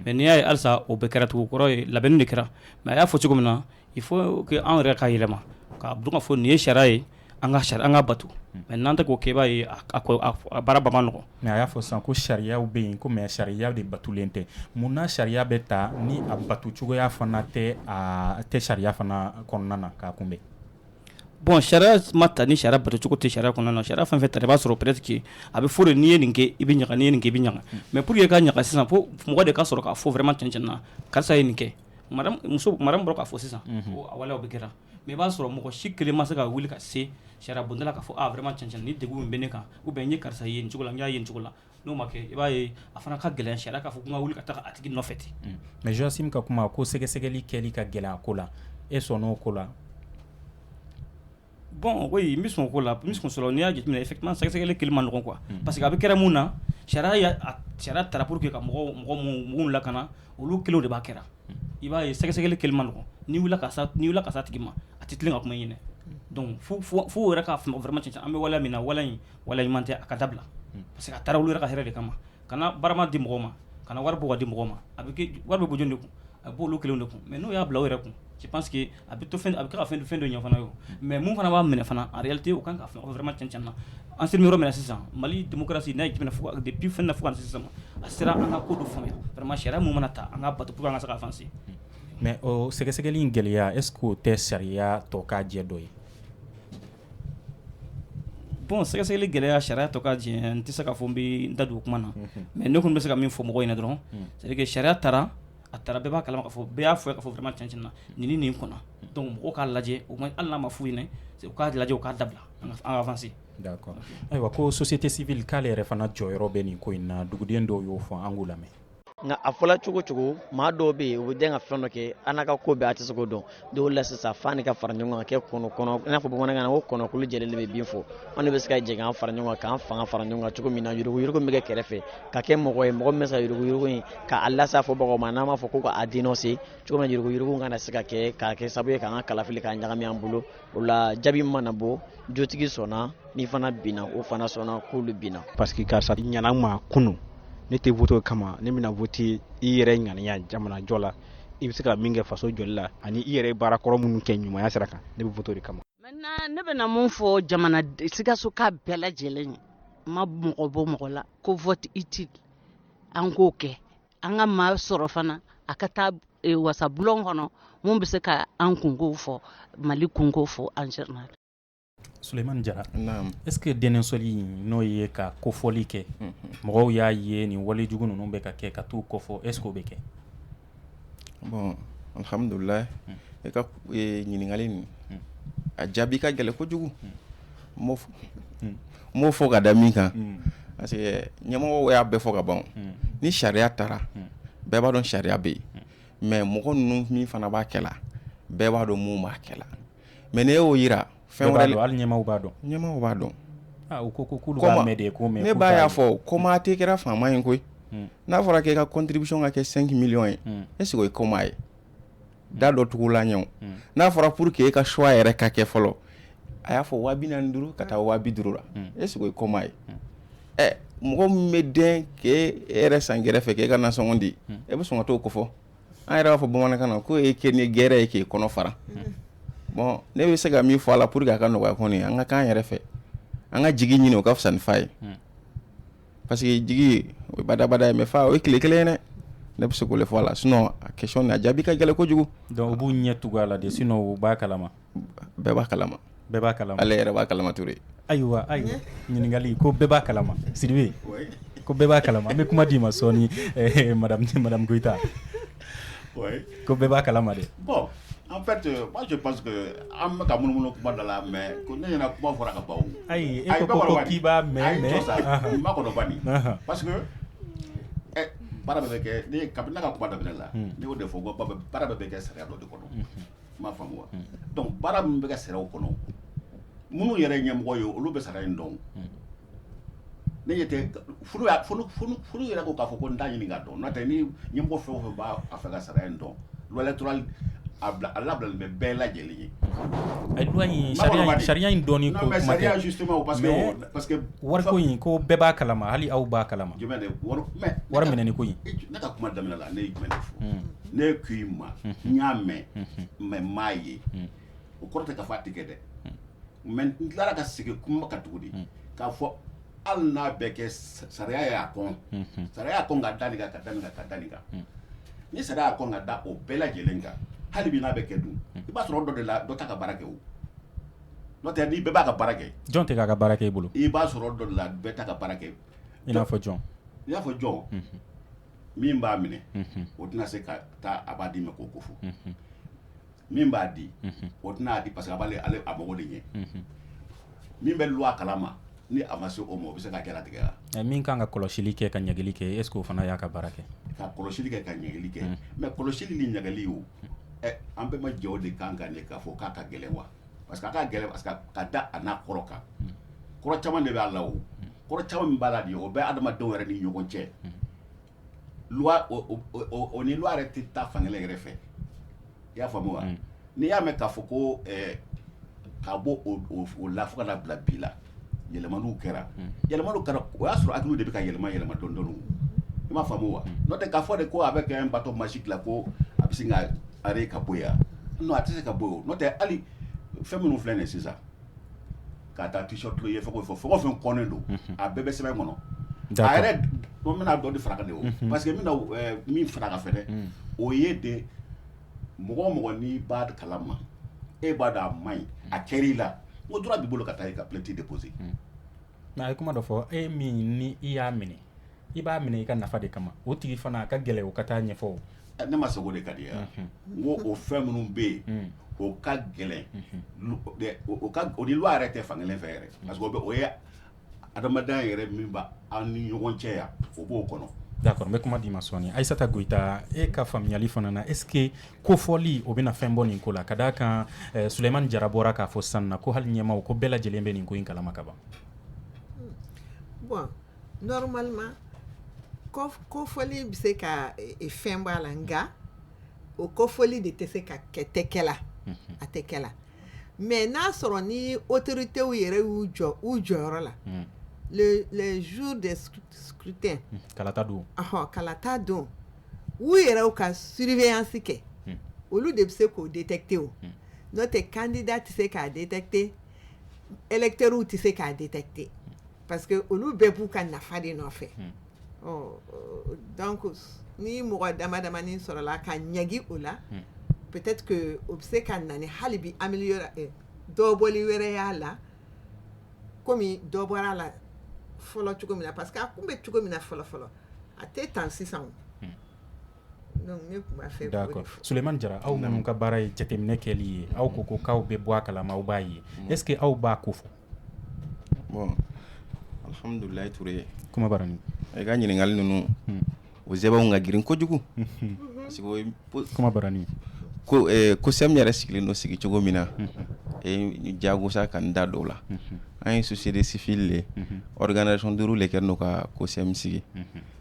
mɛ n'i y'a ye alisa o bɛ kɛra tugu kɔrɔ ye labɛn de kɛra mɛ a y'a fɔ cogo min na i fɔ anw yɛrɛ ka yɛlɛma ka fɔ nin ye sariya ye an ka an k'a bato mais n'an tɛ k'o kɛ i b'a ye a baara ba man nɔgɔ mais a y'a fɔ sisan ko sariyaw bɛ yen ko mais sariya de batolen tɛ mun na sariya bɛ ta ni a bato cogoya fana tɛ sariya fana kɔnɔna na k'a kunbɛn bon sariya ma ta ni sariya batocogo tɛ sariya kɔnɔna na sariya fɛn fɛn ta i b'a sɔrɔ peut-être que a bɛ fɔ de n'i ye nin kɛ i bɛ ɲaga n'i ye nin kɛ i bɛ ɲaga mais pour que ka ɲaga sisan fo mɔgɔ de ka sɔrɔ k'a fɔ vraiment cɛn na karisa ye nin kɛ madame bɔra k'a fɔ sisan a waleyaw bɛ kɛra Mais i b'a sɔrɔ mɔgɔ si kelen ma se ka wuli ka se sariyabonda la k'a fɔ vraiment cɛn nin de bɛ ne kan ou bien n ye karisa ye nin cogo la n y'a ye nin cogo la n'o ma kɛ i b'a ye a fana ka gɛlɛn sariya k'a fɔ n ka wuli ka taa a tigi nɔfɛ ten mais Joachim ka kuma ko sɛgɛsɛgɛli kɛli ka gɛlɛn a ko la e sɔnna o ko la bon oui n bɛ sɔn o ko la sɔrɔ n'i y'a jateminɛ effectivement sɛgɛsɛgɛli kɛli man nɔgɔ quoi parce que a bɛ kɛra mun na sariya sariya taara pour que ka mɔgɔ mɔgɔ minnu lakana olu kelenw de b'a kɛra i b'a ye sɛgɛsɛgɛli kɛli man nɔgɔ n'i wulila ka s'a tigi ma a tɛ tilen ka kuma i ɲɛna donc fo u yɛrɛ k'a faamu vraiment cɛn an bɛ waleya min na waleya in waleya ɲuman tɛ an k'a dabila parce que a taara olu yɛrɛ ka hɛrɛ de kama kana barama di mɔgɔ ma kana wari bɔ ka di mɔgɔ ma a bɛɛ wari bɛ bɔ jɔn de kun a b'olu kelenw de kun mais n'o y'a bila u yɛrɛ kun je pense que a bɛ to a bɛ ka fɛn fɛn dɔ ɲɔgɔn fana ye mais mun fana b'a minɛ fana en réalité o kan ka fɛn vraiment cɛn na an sera yɔrɔ min na sisan mali démocratie n'a jumɛn fo depuis fɛn fo sisan a sera an ka ko dɔ faamuya vraiment sariya min mana ta an k'a bato pour que an ka se ka avancer mais sɛgɛsɛgɛli in gɛlɛya est-ce que o tɛ sariya tɔ k'a jɛ dɔ ye bon sɛgɛsɛgɛli gɛlɛya sariya tɔ ka jɛ n tɛ se k'a fɔ n bɛ n da don o kuma na mais ne kɔni bɛ se ka min fɔ mɔgɔw ɲɛna dɔrɔn c'est-à-dire que sariya taara a taara bɛɛ b'a kalama k'a fɔ bɛɛ y'a faamuya k'a fɔ vraiment cɛn na nin nin kɔnna donc mɔgɔw k'a lajɛ au moins hali n'a ma f'u ɲɛna u k'a lajɛ u k'a dabila an ka avancer d'accord ayiwa ko société civile k'ale yɛrɛ fana jɔyɔrɔ bɛ nin ko in na duguden dɔw y'o fɔ an k'u lamɛn nka a fɔla cogo cogo maa dɔw bɛ yen u bɛ dɛn ka fɛn dɔ kɛ a n'a ka ko bɛɛ a tɛ se k'o dɔn dɔw la sisan f'an ka fara ɲɔgɔn kan kɛ kɔnɔ kɔnɔ i n'a fɔ bamanankan na ko kɔnɔkulu jɛlen bɛ bii fɔ an de bɛ se ka jɛ k'an fara ɲɔgɔn kan k'an fanga fara ɲɔgɔn kan cogo min na yurugu yurugu bɛ kɛ kɛrɛfɛ ka kɛ mɔgɔ ye mɔgɔ min bɛ se ka yurugu yurugu in k'a las'a fɔbagaw ma n'an b'a fɔ ko k'a dénoncer cogo min na yurugu yurugu kana se ka kɛ k'a kɛ sababu ye k'an ka kalafili k'a ɲagami an bolo o la jaabi mana bɔ jotigi sɔnna ni fana binna o fana sɔnna k'olu binna. parce que karisa ɲana n ma kunu ne tɛ vote kama ne bɛna vote i yɛrɛ ŋaniya jamanajɔ la. i bɛ se ka min kɛ faso jɔli la ani i yɛrɛ ye baara kɔrɔ minnu kɛ ɲumanya sira kan ne bɛ vote o de kama maintenant ne bɛna mun fɔ jamana sikasokaw bɛɛ lajɛlen ye n ma mɔgɔ bɔ mɔgɔ la ko vote utile an k'o kɛ an ka maa sɔrɔ fana a ka taa e, wasabulon kɔnɔ mun bɛ se ka an kunkow fɔ mali kunkow fɔ en général Suleiman jara est-ce que denɔnseli in n'o ye ka kofɔli kɛ mɔgɔw y'a ye nin walejugu ninnu bɛ ka kɛ ka t'u kofɔ est-ce que o bɛ kɛ bon alhamdulilahi e ka ɲininkali nin a jaabi ka gɛlɛn kojugu n b'o fɔ ka da min kan parce que ɲamɔgɔ y'a bɛɛ fɔ ka ban ni sariya taara bɛɛ b'a dɔn sariya bɛ yen mais mɔgɔ ninnu min fana b'a kɛ la bɛɛ b'a dɔn minnu b'a kɛ mais ne y'o yira fɛn wɛrɛ hali ɲɛmaaw b'a dɔn ɲɛmaaw b'a dɔn ne ba y'a fɔ ko maa tɛ kɛra faama ye koyi n'a fɔra k'i ka contribution ka kɛ cinq millions ye est-ce que o ye kɔmaa ye da dɔ tugu la ɲɛ n'a fɔra pour que e ka choix yɛrɛ ka kɛ fɔlɔ a y'a fɔ waa bi naani duuru ka taa waa bi duuru la est-ce que o ye kɔmaa ye ɛ mɔgɔ min bɛ den k'e yɛrɛ san kɛrɛfɛ k'e ka nasɔngɔ di e bɛ sɔn ka t'o kofɔ an yɛrɛ b'a fɔ bamanankan na ko e kɛ ni gɛrɛ ye k'i kɔnɔ fara bon ne bɛ se ka min fɔ a la pour que a ka nɔgɔya kɔni an ka k'an yɛrɛ fɛ an ka jigi ɲini o ka fisa ni fa ye parce que jigi o ye badabada ye mais fa o ye tile kelen ye dɛ ne bɛ se k'o le fɔ a la sinon a question nin a jaabi ka gɛlɛn kojugu donc u b'u ɲɛ tugu a la de sinon u b'a kalama bɛɛ b'a kalama bɛɛ b'a kalama ale yɛrɛ b'a kalama Ture ayiwa ayiwa ɲininkali ko bɛɛ b'a kalama Sidibe ko bɛɛ b'a kalama an bɛ kuma d'i ma sɔɔni eh, madame madame Goyita ko bɛɛ b'a kalama dɛ bon en fait euh, moi je pense que an bɛ ka munumunu kuma da la mais ko ne ɲɛna kuma fɔra ka ban o ayi e ko ko k'i b'a mɛn mais n makɔnɔ bani Ahan. parce que ɛ baara bɛɛ bɛ kɛ ne ye kabini ne ka kuma daminɛ la ne y'o de fɔ ko ba- baara bɛɛ bɛ kɛ sariya dɔ de kɔnɔ m'a faamu donc baara min bɛ kɛ sariya o kɔnɔ minnu yɛrɛ ɲɛmɔgɔ ye olu bɛ sariya in dɔn ne ɲɛ tɛ yɛrɛ ko k'a fɔ ko n t'a ɲini k'a dɔn n'o tɛ ni ɲɛmɔgɔ fɛn o fɛn b'a fɛ ka sariya in dɔn loi électorale a labilalen bɛ bɛɛ lajɛlen ye sariya in dɔn parce que wari in ko bɛɛ b'a kalama hali aw b'a kalama wariminɛni ko ne ka kuma daminɛ la ne ye jumɛn fɔ ne ko i ma n y'a mɛn mais n m'a ye o kɔrɔ tɛ k'a fɔ a tɛ kɛ dɛ mais n tilara ka segin kuma kan tuguni k'a fɔ hali n'a bɛ kɛ sariya y'a kɔn sariya y'a kɔn ka da nin kan ka da nin kan ka da nin kan ni sariya y'a kɔn ka da o bɛɛ lajɛlen kan hali bi n'a bɛ kɛ dun i b'a sɔrɔ dɔ de la dɔ t'a ka baara kɛ o n'o tɛ ni bɛɛ b'a ka baara kɛ jɔn tɛ k'a ka baara kɛ e bolo i b'a sɔrɔ dɔ de la bɛɛ t'a ka baara kɛ i n'a fɔ jɔn i n'a fɔ jɔn min b'a minɛ o tɛna se ka taa a b'a di ma k'o ko fɔ min b'a di o tɛn'a di parce que a b'ale a mako de ɲɛ min bɛ loi kalama ni a ma se o ma o bɛ se ka jalatigɛ la min kan ka kɔlɔsili kɛ ka ɲangili kɛ est-ce que o fana y'a ka baara kɛ ka kɔlɔsili kɛ ka ɲangili kɛ mais kɔlɔsili ni ɲangili o an bɛɛ ma jɛ o de kan ka ɲɛ k'a fɔ k'a ka gɛlɛn wa parce que a ka gɛlɛn parce que ka da a n'a kɔrɔ kan kɔrɔ caman de b'a la o kɔrɔ caman min b'a la de o bɛ adamadenw yɛrɛ ni ɲɔgɔn cɛ loi o o- o- o- o ni loi yɛrɛ tɛ taa fankelen yɛrɛ fɛ i y'a faamu wa n'i y'a mɛn k'a fɔ ko ɛɛ ka bɔ o o- o la fo ka na bila bi la yɛlɛmaniw kɛra yɛlɛmaniw kɛra o y'a sɔrɔ hakiliw de bɛ ka yɛlɛma yɛlɛma dɔɔnin dɔɔnin o i m'a faamu wa n'o tɛ k'a fɔ de ko a bɛ kɛ bâton magique la ko a bɛ sin ka arrêt ka bɔ yan non a tɛ se ka bɔ yen n'o tɛ hali fɛn minnu filɛ nin ye sisan k'a ta t-shirt i ye fɛn o fɛn fɛn o fɛn kɔnnen don a bɛɛ bɛ sɛbɛn kɔnɔ a yɛrɛ n bɛna dɔ de far'a kan de o parce que n bɛna min far'a kan fɛnɛ o ye de mɔgɔ o mɔgɔ n'i b'a kalama e b'a dɔn a man ɲi a kɛr'i la o droit b'i bolo ka taa i ka plainte déposer mais a ye kuma dɔ fɔ e min ni i y'a minɛ i b'a minɛ i ka nafa de kama o tigi fana a ka gɛlɛn o ka taa ɲɛfɔ ne ma sogo de ka di ye n ko o fɛn minnu bɛ yen o ka gɛlɛn o ni loi yɛrɛ tɛ fankelen fɛ yɛrɛ o bɛ o adamadenya yɛrɛ min b'an ni ɲɔgɔn cɛ yan o b'o kɔnɔ d'accord n bɛ kuma d'i ma sɔɔni ayisata goyita e ka faamuyali fana na est-ce que ko fɔli o bɛna fɛn bɔ nin ko la ka d'a kan solemani jara bɔra k'a fɔ san na ko hali ɲɛmaaw ko bɛɛ lajɛlen bɛ nin ko in kalama kaban bon normalement ko fɔli bɛ se ka fɛn bɔ a la nka o ko fɔli de tɛ se ka kɛ tɛ kɛla a tɛ kɛla mɛ n'a sɔrɔ ni o teri tɛ yɛrɛ y'u jɔ u jɔyɔrɔ la zu de tɛ kalata don kalata don u yɛrɛ ka sbiyasin kɛ olu de bɛ se k'o de tɛ te o n'o tɛ kandida tɛ se k'a de tɛ terw tɛ se k'a de tɛ te parce que olu bɛɛ b'u ka nafa de nɔfɛ donc ni mɔgɔ dama damani sɔrɔla ka ɲangi o la peut-être que o bɛ se ka na ni hali bi améliorer eh, dɔbɔli wɛrɛ y'a la komi dɔ bɔra a la fɔlɔ cogo min na parce que a kun bɛ cogo min na fɔlɔ fɔlɔ a tɛ tan sisan o Suman jara aw minnu ka baara ye jateminɛ kɛ ye aw ko ko k'aw bɛ bɔ a kala aw b'a ye ɛsseke aw b'a ko fɔ ye i ka ɲininkakali ninnu o sɛbɛn anw ka grin kojugu ko ko sɛ yɛrɛ sigilen don sigi cogo min na jagosa ka da dɔw la an ye susirisifi de ye dkare sɔn duuru de kɛ n'o ka kosɛbɛ sigi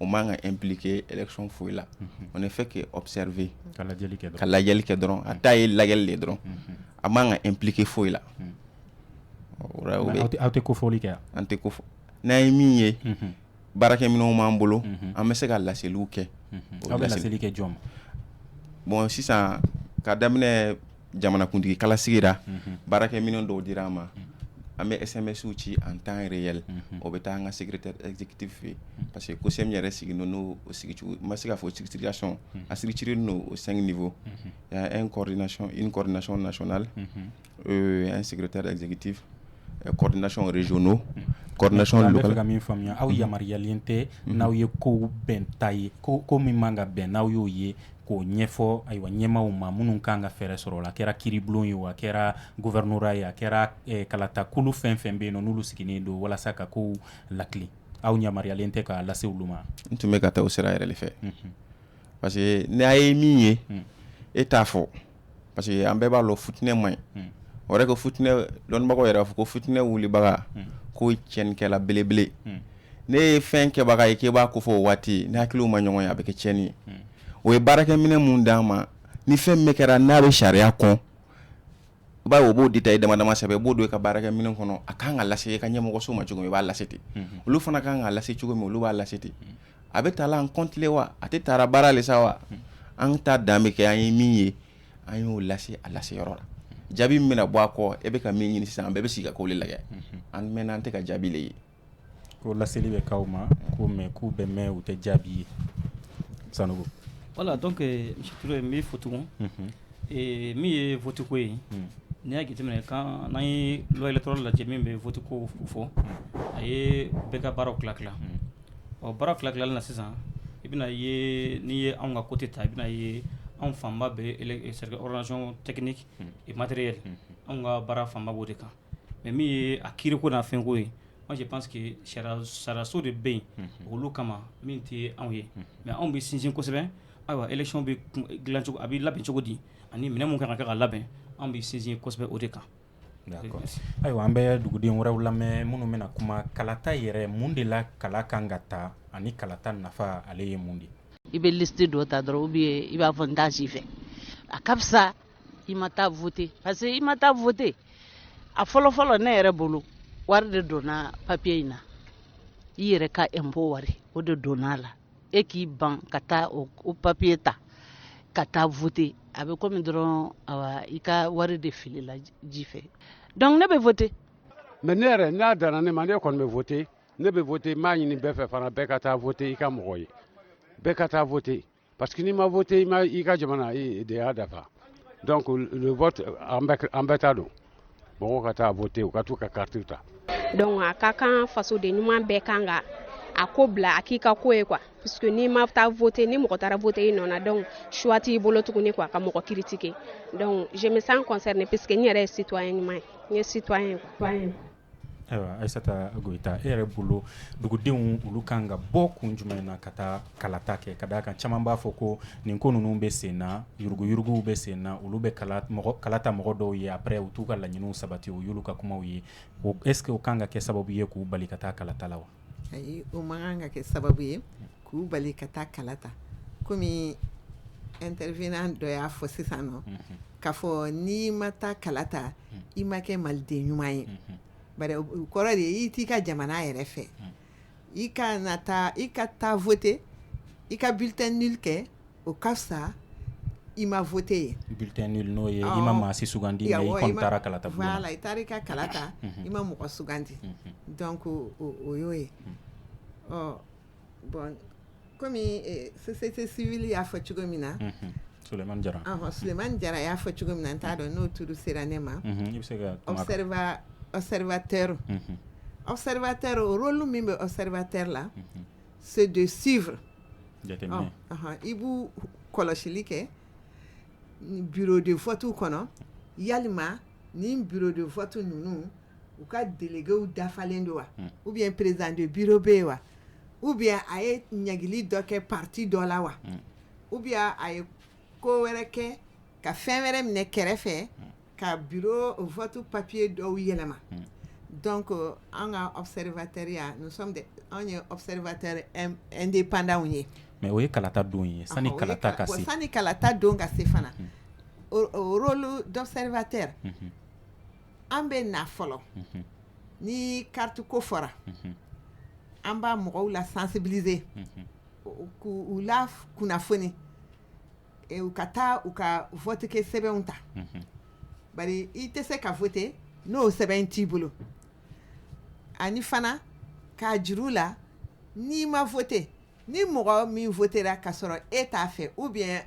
o man kan ka impliquer élection foyi la on ne fait que observer ka lajɛli kɛ dɔrɔn a ta ye lajɛli de dɔrɔn a man kan ka impliquer foyi la aw tɛ kofɔli kɛ an tɛ ko fɔ n'an ye min ye baarakɛminɛnw b'an bolo an bɛ se ka laseliw kɛ aw bɛ laseli kɛ jɔn ma bon sisan ka daminɛ jamanakuntigi kala sigira baarakɛ minnu dɔw dira an ma an bɛ esɛmɛsiw ci an tan yɛrɛ yɛlɛ o bɛ taa an ka sigitibi fɛ yen parce que ko sɛ yɛrɛ sigi n n'o sigicogo ma se k'a fɔ sigitigiya sɔn a siri ciri n'o o san ninfɔ n kɔrɔɔri nasɔn nasɔnonare an sigite dɛ zgti coordination régionaux coordination locale ka min faamuya aw yamaruyayalen tɛ n'aw ye kow bɛn ta ye ko ko min man ka bɛn n'aw y'o ye k'o ɲɛfɔ ayiwa ɲɛmaw ma minnu kan ka fɛɛrɛ sɔrɔ o la a kɛra kiiribulon ye a kɛra gouvernorat ye a kɛra kalatakulu fɛn fɛn bɛ yen n'olu sigilen don walasa ka kow latilen aw yamaruyayalen tɛ k'a lase olu ma n tun bɛ ka taa o sira yɛrɛ de fɛ parce que n'e ye min ye e t'a fɔ parce que an bɛɛ b'a dɔn fitinɛ man ɲi o yɛrɛ ko fitinɛ dɔnnibagaw yɛrɛ b'a fɔ ko fitinɛ wulibaga k'o ye tiɲɛnikɛla belebele de ye fɛn kɛbaga ye k'e b'a ko fɔ o waati ni hakiliw ma ɲɔgɔn ye a bɛ kɛ tiɲɛni ye o ye baarakɛminɛn min d'an ma ni fɛn min kɛra n'a bɛ sariya kɔnɔ bawo o b'o détail dama dama sɛbɛn i b'o don i ka baarakɛminɛn kɔnɔ a ka kan ka lase i ka ɲɛmɔgɔso ma cogo min i b'a lase ten olu fana ka kan k'a lase cogo min olu b'a lase ten a bɛ ta la en compte le wa a tɛ taara baara le sa wa an ta dan bɛ kɛ an ye min ye an y'o lase a lase yɔrɔ la jaabi min bɛna bɔ a kɔ e bɛ ka min ɲini sisan an bɛɛ bɛ sigi ka ko le lajɛ an mɛn an tɛ ka jaabi de ye ko laseli bɛ k'aw ma ko mais k'u bɛ mɛn u tɛ jaabi ye Sanogo voilà donc monsieur n b'i fo tugun min ye vote ko ye n'i y'a jate minɛ kan n'an ye loi électorale lajɛ min bɛ vote ko fɔ a ye bɛɛ ka baaraw tila tila Ɔ baara tila tilali na sisan i bɛna ye n'i ye anw ka côté ta i bɛna ye anw fanba bɛ organisation technique et matériel anw ka baara fanba b'o de kan mais min ye a kiiri ko n'a fɛn ko ye moi je pense que sariyaso de bɛ yen olu kama min tɛ anw ye mais anw bɛ sinsin kosɛbɛ ayiwa élection bɛ dilancogo a bɛ labɛn cogo di ani minɛn min kan ka kɛ ka labɛn anw bɛ sinsin kosɛbɛ o de kan Ayiwa an bɛ duguden wɛrɛw lamɛn minnu bɛna kuma kalata yɛrɛ mun de la kala kan ka ta ani kalata nafa ale ye mun de ye i bɛ liste dɔ ta dɔrɔn ou bien i b'a fɔ n t'a si fɛ a ka fisa i ma taa voter parce que i ma taa voter a fɔlɔfɔlɔ ne yɛrɛ bolo wari de donna papier in na i yɛrɛ ka impôt wari o de donna a la e k'i ban ka taa o papiye ta ka taa vote a bɛ komi dɔrɔn i ka wari de filila ji fɛ donc ne bɛ vote mais ne yɛrɛ n'a danna ne ma ne kɔni bɛ vote ne bɛ vote m'a ɲini bɛɛ fɛ fana bɛɛ ka taa vote i ka mɔgɔ ye bɛɛ ka taa vote parce que n'i ma vote i ka jamanadenya dafa donc le vote an bɛɛ ta don mɔgɔw ka taa vote u ka t'u ka karitiw ta donc a ka kan fasoden ɲuman bɛɛ kan ka a ko bila a k'i ka ko ye quoi puisque n'i ma taa vote ni mɔgɔ taara vote i nɔ na donc choix t'i bolo tuguni quoi ka mɔgɔ critiquer donc je me sens concernée puisque n yɛrɛ ye citoyen ɲuman ye n ye citoyen ye quoi Ayiwa Ayisata Goyita e yɛrɛ bolo dugudenw olu kan ka bɔ kun jumɛn na ka taa kalata kɛ ka d'a kan caman b'a fɔ ko nin ko ninnu bɛ sen na yuruguyuruguw bɛ sen na olu bɛ kalata mɔgɔ dɔw ye après u t'u ka laɲiniw sabati o y'olu ka kumaw ye est-ce que o kan ka kɛ sababu ye k'u bali ka taa kalata la wa ayi o man kan ka kɛ sababu ye K'u bali ka taa kala ta kɔmi intervenant dɔ y'a fɔ sisan nɔ k'a fɔ n'i ma taa kala ta i ma kɛ maliden ɲuman ye bari o kɔrɔ de ye i t'i ka jamana yɛrɛ fɛ i ka na taa i ka taa vote i ka bulletin nul kɛ o ka fisa i ma vote ye bulletin nul n'o ye i ma maa si sugandi mais i kɔni taara kalata bulon na voilà i taara i ka kalata i ma mɔgɔ sugandi donc o y'o ye ɔ bɔn kɔmi sose tɛ sibi y'a fɔ cogo min na soman jara soman jara y'a fɔ cogo min na t'a dɔn n'o tuuru sera ne ma aw awribatɛ aw sariyabatɛ o olu min bɛ aw sariyabatɛ la sojdu sif i b'u kɔlɔsili kɛ bidefɔtu kɔnɔ yalima ni bidefɔtu ninnu u ka deliw dafalen don wa u bɛ perezte bi bɛ yen wa u bɛ a ye ɲagli dɔ kɛ pati dɔ la wa u bɛ a ye ko wɛrɛ kɛ ka fɛn wɛrɛ minɛ kɛrɛfɛ ka bi fɔtu papiye dɔw yɛlɛma dɔn ko an ka aw sariyarebatɛya anw ye awribatɛ n de pantanw ye mɛ o ye kalata don ye sanu kalata ka sanu kalata don ka se fana dɔribatɛ an bɛ na fɔlɔ ni kariti ko fɔra an b'a mɔgɔw la sensibiliser k'u la kunnafoni u ka taa u ka votekɛ sɛbɛnw ta bari i tɛ se ka vote n'o sɛbɛn t'i bolo ani fana k'a jir'u la n'i ma vote ni mɔgɔ min votera ka sɔrɔ e t'a fɛ ou bien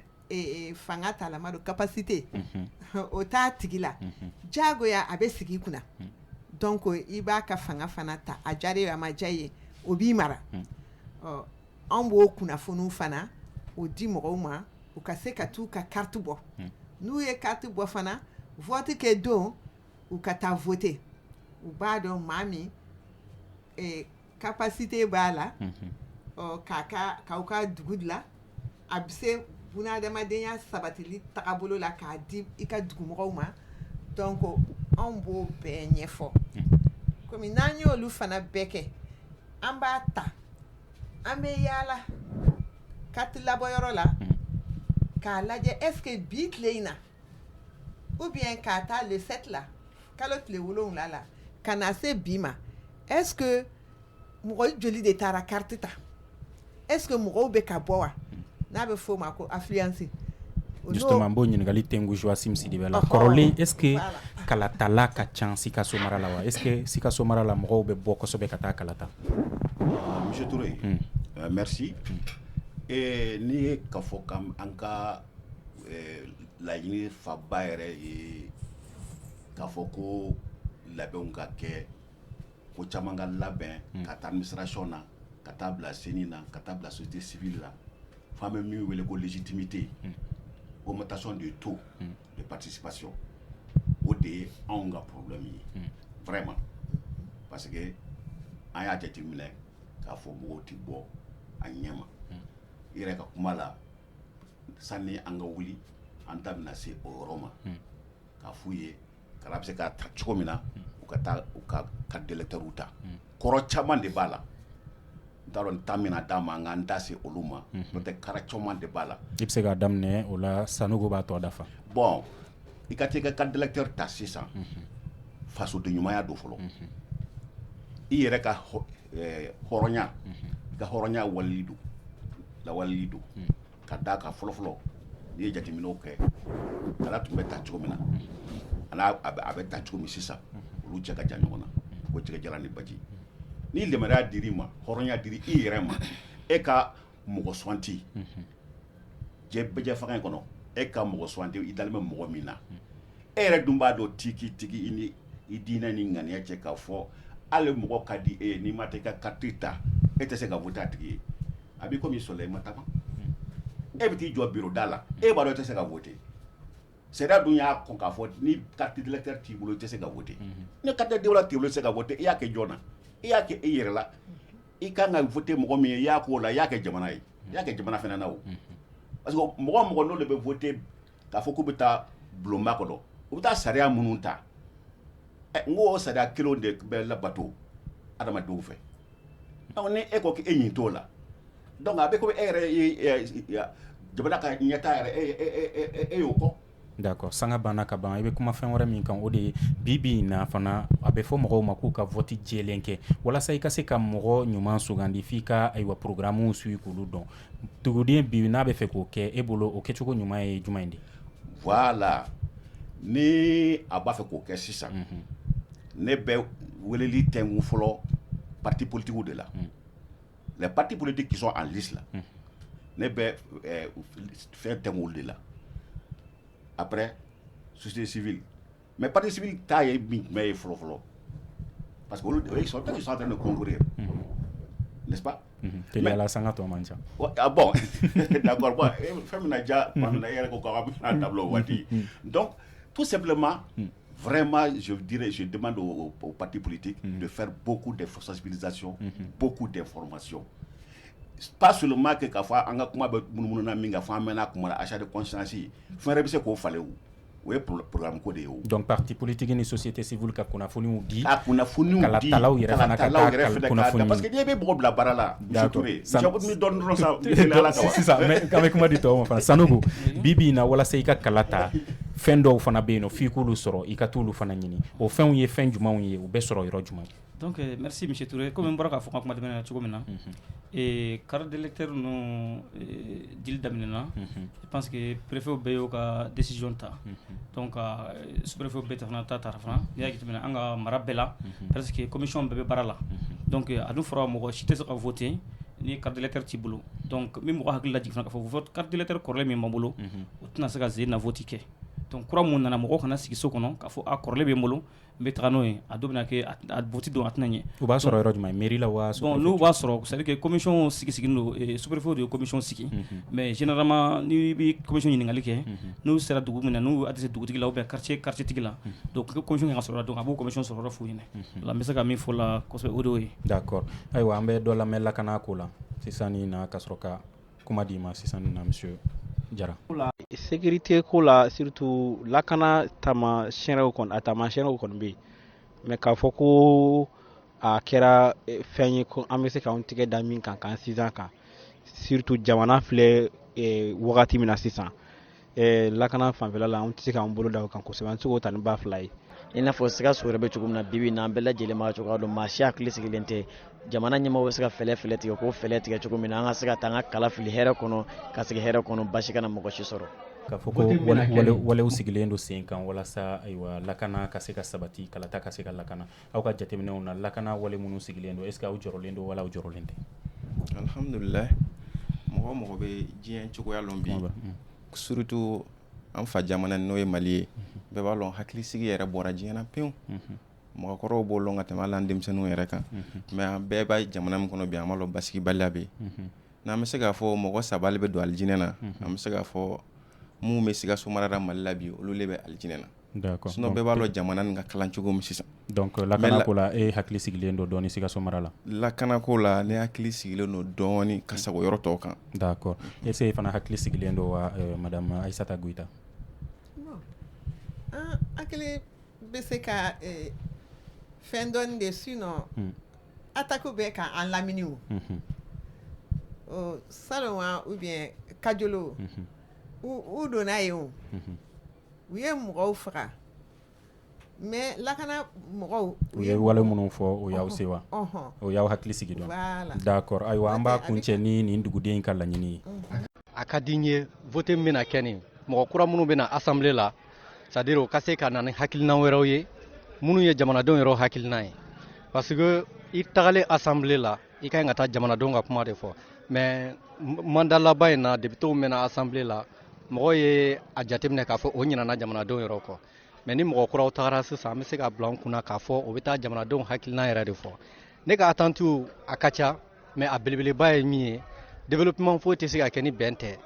fanga t'a la ma don capacité o t'a tigi la jagoya a bɛ sigi i kunna donc i b'a ka fanga fana ta a diyara ye a ma diya ye o b'i mara ɔ an b'o kunnafoniw fana o di mɔgɔw ma u ka se ka taa u ka carte bɔ n'u ye carte bɔ fana vote kɛ don u ka taa voter u b'a dɔn maa min capacité b'a la k'aw ka dugu dilan a bɛ se bunadamadenya sabatili tagabolo la k'a di i ka dugumɔgɔw ma donc anw b'o bɛɛ ɲɛfɔ kɔmi n'an y'olu fana bɛɛ kɛ an b'a ta an bɛ yaala carte labɔyɔrɔ la k'a lajɛ est-ce que bi tilen in na ou bien k'a ta le sept la kalo tile wolowula la ka na se bi ma est-ce que mɔgɔ joli de taara carte ta est-ce que mɔgɔw bɛ ka bɔ wa n'a bɛ f'o ma ko affluence justement b'o ɲininkali tɛngu Joachim Sidibé la kɔrɔlen est-ce que kalatala ka ca Sikaso mara la wa est-ce que Sikaso mara la mɔgɔw bɛ bɔ kosɛbɛ ka taa kalata Monsieur Touré merci n'i ye k'a fɔ ko an ka laɲini faba yɛrɛ ye k'a fɔ ko labɛnw ka kɛ ko caman ka labɛn k'a ta administration na ka taa bila CENI na ka taa bila société civile la f'an bɛ min wele ko légitimité augmentation de taux de participation o de ye anw ka problème ye vraiment parce que an y'a jateminɛ k'a fɔ mɔgɔw tɛ bɔ a ɲɛ ma i yɛrɛ ka kuma la sani an ka wuli an da bɛna se o yɔrɔ ma k'a f'u ye kala bɛ se ka ta cogo min na u ka taa u ka carte d'électeurw ta kɔrɔ caman de b'a la n t'a dɔn n ta mina d'a ma n ka n da se olu ma n'o tɛ kara caman de b'a la i bɛ se k'a daminɛ o la Sanogo b'a tɔ dafa bon i ka t'i ka carte d'électeur ta sisan fasodenɲumanya don fɔlɔ i yɛrɛ ka hɔrɔnya i ka hɔrɔnya wali don lawaleli don ka d'a kan fɔlɔfɔlɔ n'i ye jateminɛ kɛ kala tun bɛ ta cogo min na a a bɛ ta cogo min sisan olu cɛ ka jan ɲɔgɔn na ko cɛ jara ni baji ni lammaya dir'i ma hɔrɔnya dir'i yɛrɛ ma e ka mɔgɔ suganti bɛɛjɛfanga in kɔnɔ e ka mɔgɔ suganti i dalen bɛ mɔgɔ min na e yɛrɛ dun b'a dɔn tigitigi i ni i diinɛ ni ŋaniya cɛ k'a fɔ hali mɔgɔ ka di e ye n'i ma t'i ka carte ta e tɛ se ka voter a tigi ye a b'i komi sɔrɔ i ma taama e bɛ t'i jɔ bureau da la e b'a dɔn e tɛ se ka voter sariya dun y'a kɔn k'a fɔ ni carte d'électeur t'i bolo i tɛ se ka voter ni carte d'électeur t'i bolo i tɛ se ka voter e y'a kɛ jɔn na e y'a kɛ e yɛrɛ la i ka kan ka voter mɔgɔ min ye i y'a k'o la i y'a kɛ jamana ye i y'a kɛ jamana fana na o parce que mɔgɔ o mɔgɔ n'olu bɛ voter k'a fɔ k'u bɛ taa bulonba kɔnɔ u bɛ taa sariya minnu ta ɛ n ko o sariya kelenw de bɛ labato adamadenw fɛ donc ni e ko k'e ɲin t'o la donc a bɛ komi e yɛrɛ ye jamana ka ɲɛtaa yɛrɛ e y'o kɔ D'accord sanga banna ka ban i bɛ kuma fɛn wɛrɛ min kan o de ye bi bi in na fana a bɛ fɔ mɔgɔw ma k'u ka vote jɛlen kɛ walasa i ka se ka mɔgɔ ɲuman sugandi f' i ka ayiwa programmew suivre k'olu dɔn duguden bi n'a bɛ fɛ k'o kɛ e bolo o kɛcogo ɲuman ye jumɛn de voilà ni a b'a fɛ k'o kɛ sisan ne bɛ weleli tɛngu fɔlɔ parti politiquew de la la pati bolo de kisɔn a li la ne bɛ fɛn tɛ wolo de la a susi mɛ patesi t'a ye min tun bɛ ye fɔlɔfɔlɔ parce que sɔn tɛ sɔn tɛ ni koko ye la san ka tɔ man ca bɔn fɛn bɛna ja e yɛrɛ ko da waati dɔn tu sɛbɛnlema Vraiment je dirai je demande aux partis politiques unhun de faire beaucoup de sensibilisation unhun beaucoup d'information pas seulement que k'a fɔ an ka kuma bɛ munumunu na min kan fɔ an mɛɛnna a kuma la achat de conscience fɛn wɛrɛ bɛ se k'o falen o o ye programme ko de ye o donc parti politique ni société civile ka kunnafoniw di ka kunnafoniw di kalatalaw yɛrɛ fana ka taa kunnafoni parce que n'i bɛ mɔgɔ bila baara la D'accord. San... Jabu ni dɔn dɔrɔn sa. Sisan mais k'an bɛ kuma di tɔw ma fana Sanogo bi bi in na walasa i ka kala ta fɛn dɔw fana bɛ yen nɔ f'i k'olu sɔrɔ i ka t'olu fana ɲini o fɛnw ye fɛn jumɛnw ye u bɛ sɔrɔ yɔrɔ jumɛn. Donc merci monsieur Touré comme n bɔra k'a fɔ n ka kuma tɛmɛnen na cogo min na. Unhun. Ee carte d'électeur ninnu dili daminɛ na. Unhun. Parce que perefe bɛ y'o ka disi ta kaurfew bɛ ta taara fana n y'a tɛmɛna an ka mara bɛɛ la parce que kɔmimi bɛɛ bɛ baara la a fɔra mɔgɔ si tɛ se ka fɔ ten ni karatati t'i bolo min mɔgɔ hakili laj ka fɔ karatatikaele kɔrɔlen min ma bolo u tɛna se ka ze naoti kɛ kura minnu nana mɔgɔ kana sigiso kɔnɔ ka fɔ a kɔrɔlen bɛ n bolo n bɛ taa n'o ye a dun bɛna kɛ a vote don a tɛna ɲɛ u b'a sɔrɔ yɔrɔ jumɛn mairie la waa bon n'u b'a sɔrɔ c'est à dire que commission sigi sigilen don sous préfet de ye commission sigi mais généralement n'i bɛ commission ɲininkali kɛ n'u sera dugu min na n'u y'a dɛsɛ dugutigi la ou bien quartier quartier tigi la donc pour que commission kana sɔrɔ donc a b'o commission sɔrɔ yɔrɔ f'u ɲɛna o la n bɛ se ka min fɔ o la kosɛbɛ o de y'o ye d'accord ayiwa an bɛ dɔ lamɛn lakana ko la sisan nin na ka sɔrɔ ka Kuma di ma sisan nin na monsieur Jara sécurité ko la surtout lakana taamasiyɛnw kɔni a taamasiyɛnw kɔni bɛ yen mais k'a fɔ ko a kɛra fɛn ye ko an bɛ se k'an tɛgɛ da min kan k'an sinsin kan surtout jamana filɛ wagati min na sisan ɛɛ lakana fanfɛla la an tɛ se k'an bolo da o kan kosɛbɛ an tɛ se k'o ta ni ba fila ye i n'a fɔ sikaso yɛrɛ bɛ cogo min na bibi in na an bɛɛ lajɛlen b'a cogoya dɔn maa si hakili sigilen tɛ jamana ɲɛmɔgɔ bɛ se ka fɛɛrɛ fɛɛrɛ tigɛ k'o fɛɛrɛ tigɛ cogo min na an ka se ka taa an ka kala fili hɛrɛ kɔnɔ ka segin hɛrɛ kɔnɔ baasi kana mɔgɔ si sɔrɔ k'a fɔ ko walew sigilen don sen kan walasa ayiwa lakana ka se ka sabati kalata ka se ka lakana aw ka jateminɛw na lakana wale minnu sigilen don est ce que aw jɔrɔlen don wala aw jɔrɔlen tɛ? Alhamdulilahi mɔgɔ o mɔgɔ bɛ diɲɛ cogoya lɔn bi surtout an fa jamana n'o ye Mali ye bɛɛ b'a lɔn hakilisigi yɛrɛ bɔra diɲɛ na pewu mɔgɔkɔrɔw b'o lɔn ka tɛmɛ hali an denmisɛnninw yɛrɛ kan mais an bɛɛ b'a jamana min kɔnɔ bi an b'a lɔn basigibaliya bɛ yen n'an bɛ se k'a fɔ mɔgɔ saba le bɛ don alijinɛ na an bɛ se k'a fɔ minnu bɛ Sikaso mara la Mali la bi olu le bɛ alijinɛ na. Sinon bɛɛ b'a lɔn jamana nin ka kalan cogo min sisan donc lakana ko la e hakili sigilen don dɔɔnin Sikaso mara la lakana ko la ne hakili sigilen don dɔɔnin ka sago yɔrɔ tɔw kan d'accord est ce que e fana hakili sigilen don wa madame Ayisata Goyita hakili bɛ se ka fɛn dɔɔnin de sinon attaque bɛ k'an lamini o salon ou bien Kajolo u donna yen o u ye mɔgɔw faga mais lakana mɔgɔw u ye wale minnu fɔ o y'aw sewa ɔnhɔn o y'aw hakili sigi donc voilà d'accord ayiwa an b'a kuncɛ ni nin duguden ka laɲini ye unhun a ka di n ye vote min bɛna kɛ nin mɔgɔ kura minnu bɛ na assemblée la c'est à dire o ka se ka na ni hakilinan wɛrɛw ye minnu ye jamanadenw yɛrɛ hakilinan ye parce que i tagalen assemblée la i ka ɲi ka taa jamanadenw ka kuma de fɔ mais mandat laban in na députés mɛnna assemblée la mɔgɔw ye a jateminɛ k'a fɔ o ɲinana jamanadenw yɛrɛ kɔ mais ni mɔgɔ kuraw tagara sisan an bɛ se k'a bila an kunna k'a fɔ o bɛ taa jamanadenw hakilinan yɛrɛ de fɔ ne ka attentes a ka ca mais a belebeleba ye min ye développement foyi tɛ se ka kɛ ni bɛn tɛ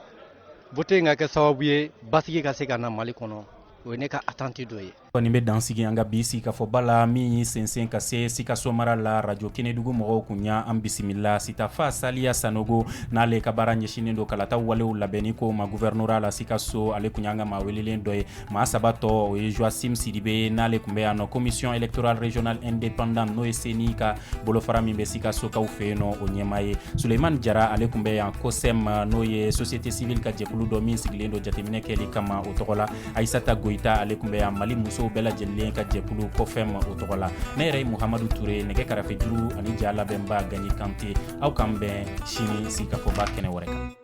vote in ka kɛ sababu ye basigi ka se ka na mali kɔnɔ o ye ne ka attente dɔ ye Nin bɛ dansigi an ka bi sigikafɔba la min y'i sɛnsɛn ka se Sikaso mara la radio kɛnɛdugu mɔgɔw kun y'an bisimila sitafa saliya Sanogo n'ale ka baara ɲɛsinnen don kalata walew labɛnni ko ma gouvernorat la Sikaso ale kun y'an ka maa welelen dɔ ye maa saba tɔ o ye Joachim Sidibe n'ale kun bɛ yan nɔ commission électorale régionale indépendante n'o ye CENI ka bolofara min bɛ Sikasokaw fɛ yen nɔ o ɲɛmaa ye Suleyimani Jara ale kun bɛ yan COCEM n'o ye société civile ka jɛkulu dɔ min sigilen don jateminɛ kɛli kama o tɔgɔ la ayisata goyita ale kun bɛ yan mali musow bɛɛ lajɛlen ka jɛkulu COFEM o tɔgɔ la ne yɛrɛ ye muhamadu ture nɛgɛ karafe juru ani ja labɛnba Gaɲi Kante aw k'an bɛn sini sigikafɔba kɛnɛ wɛrɛ kan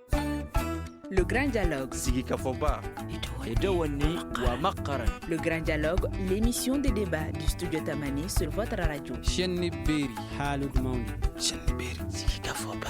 Le Grand Dialogue. Sigikafɔba. Edouani Wamakara. Le Grand Dialogue, l'émission de débat du studio Tamani sur votre radio. Chenni Beri. Halud Mauni. Chenni Beri. Sigikafɔba.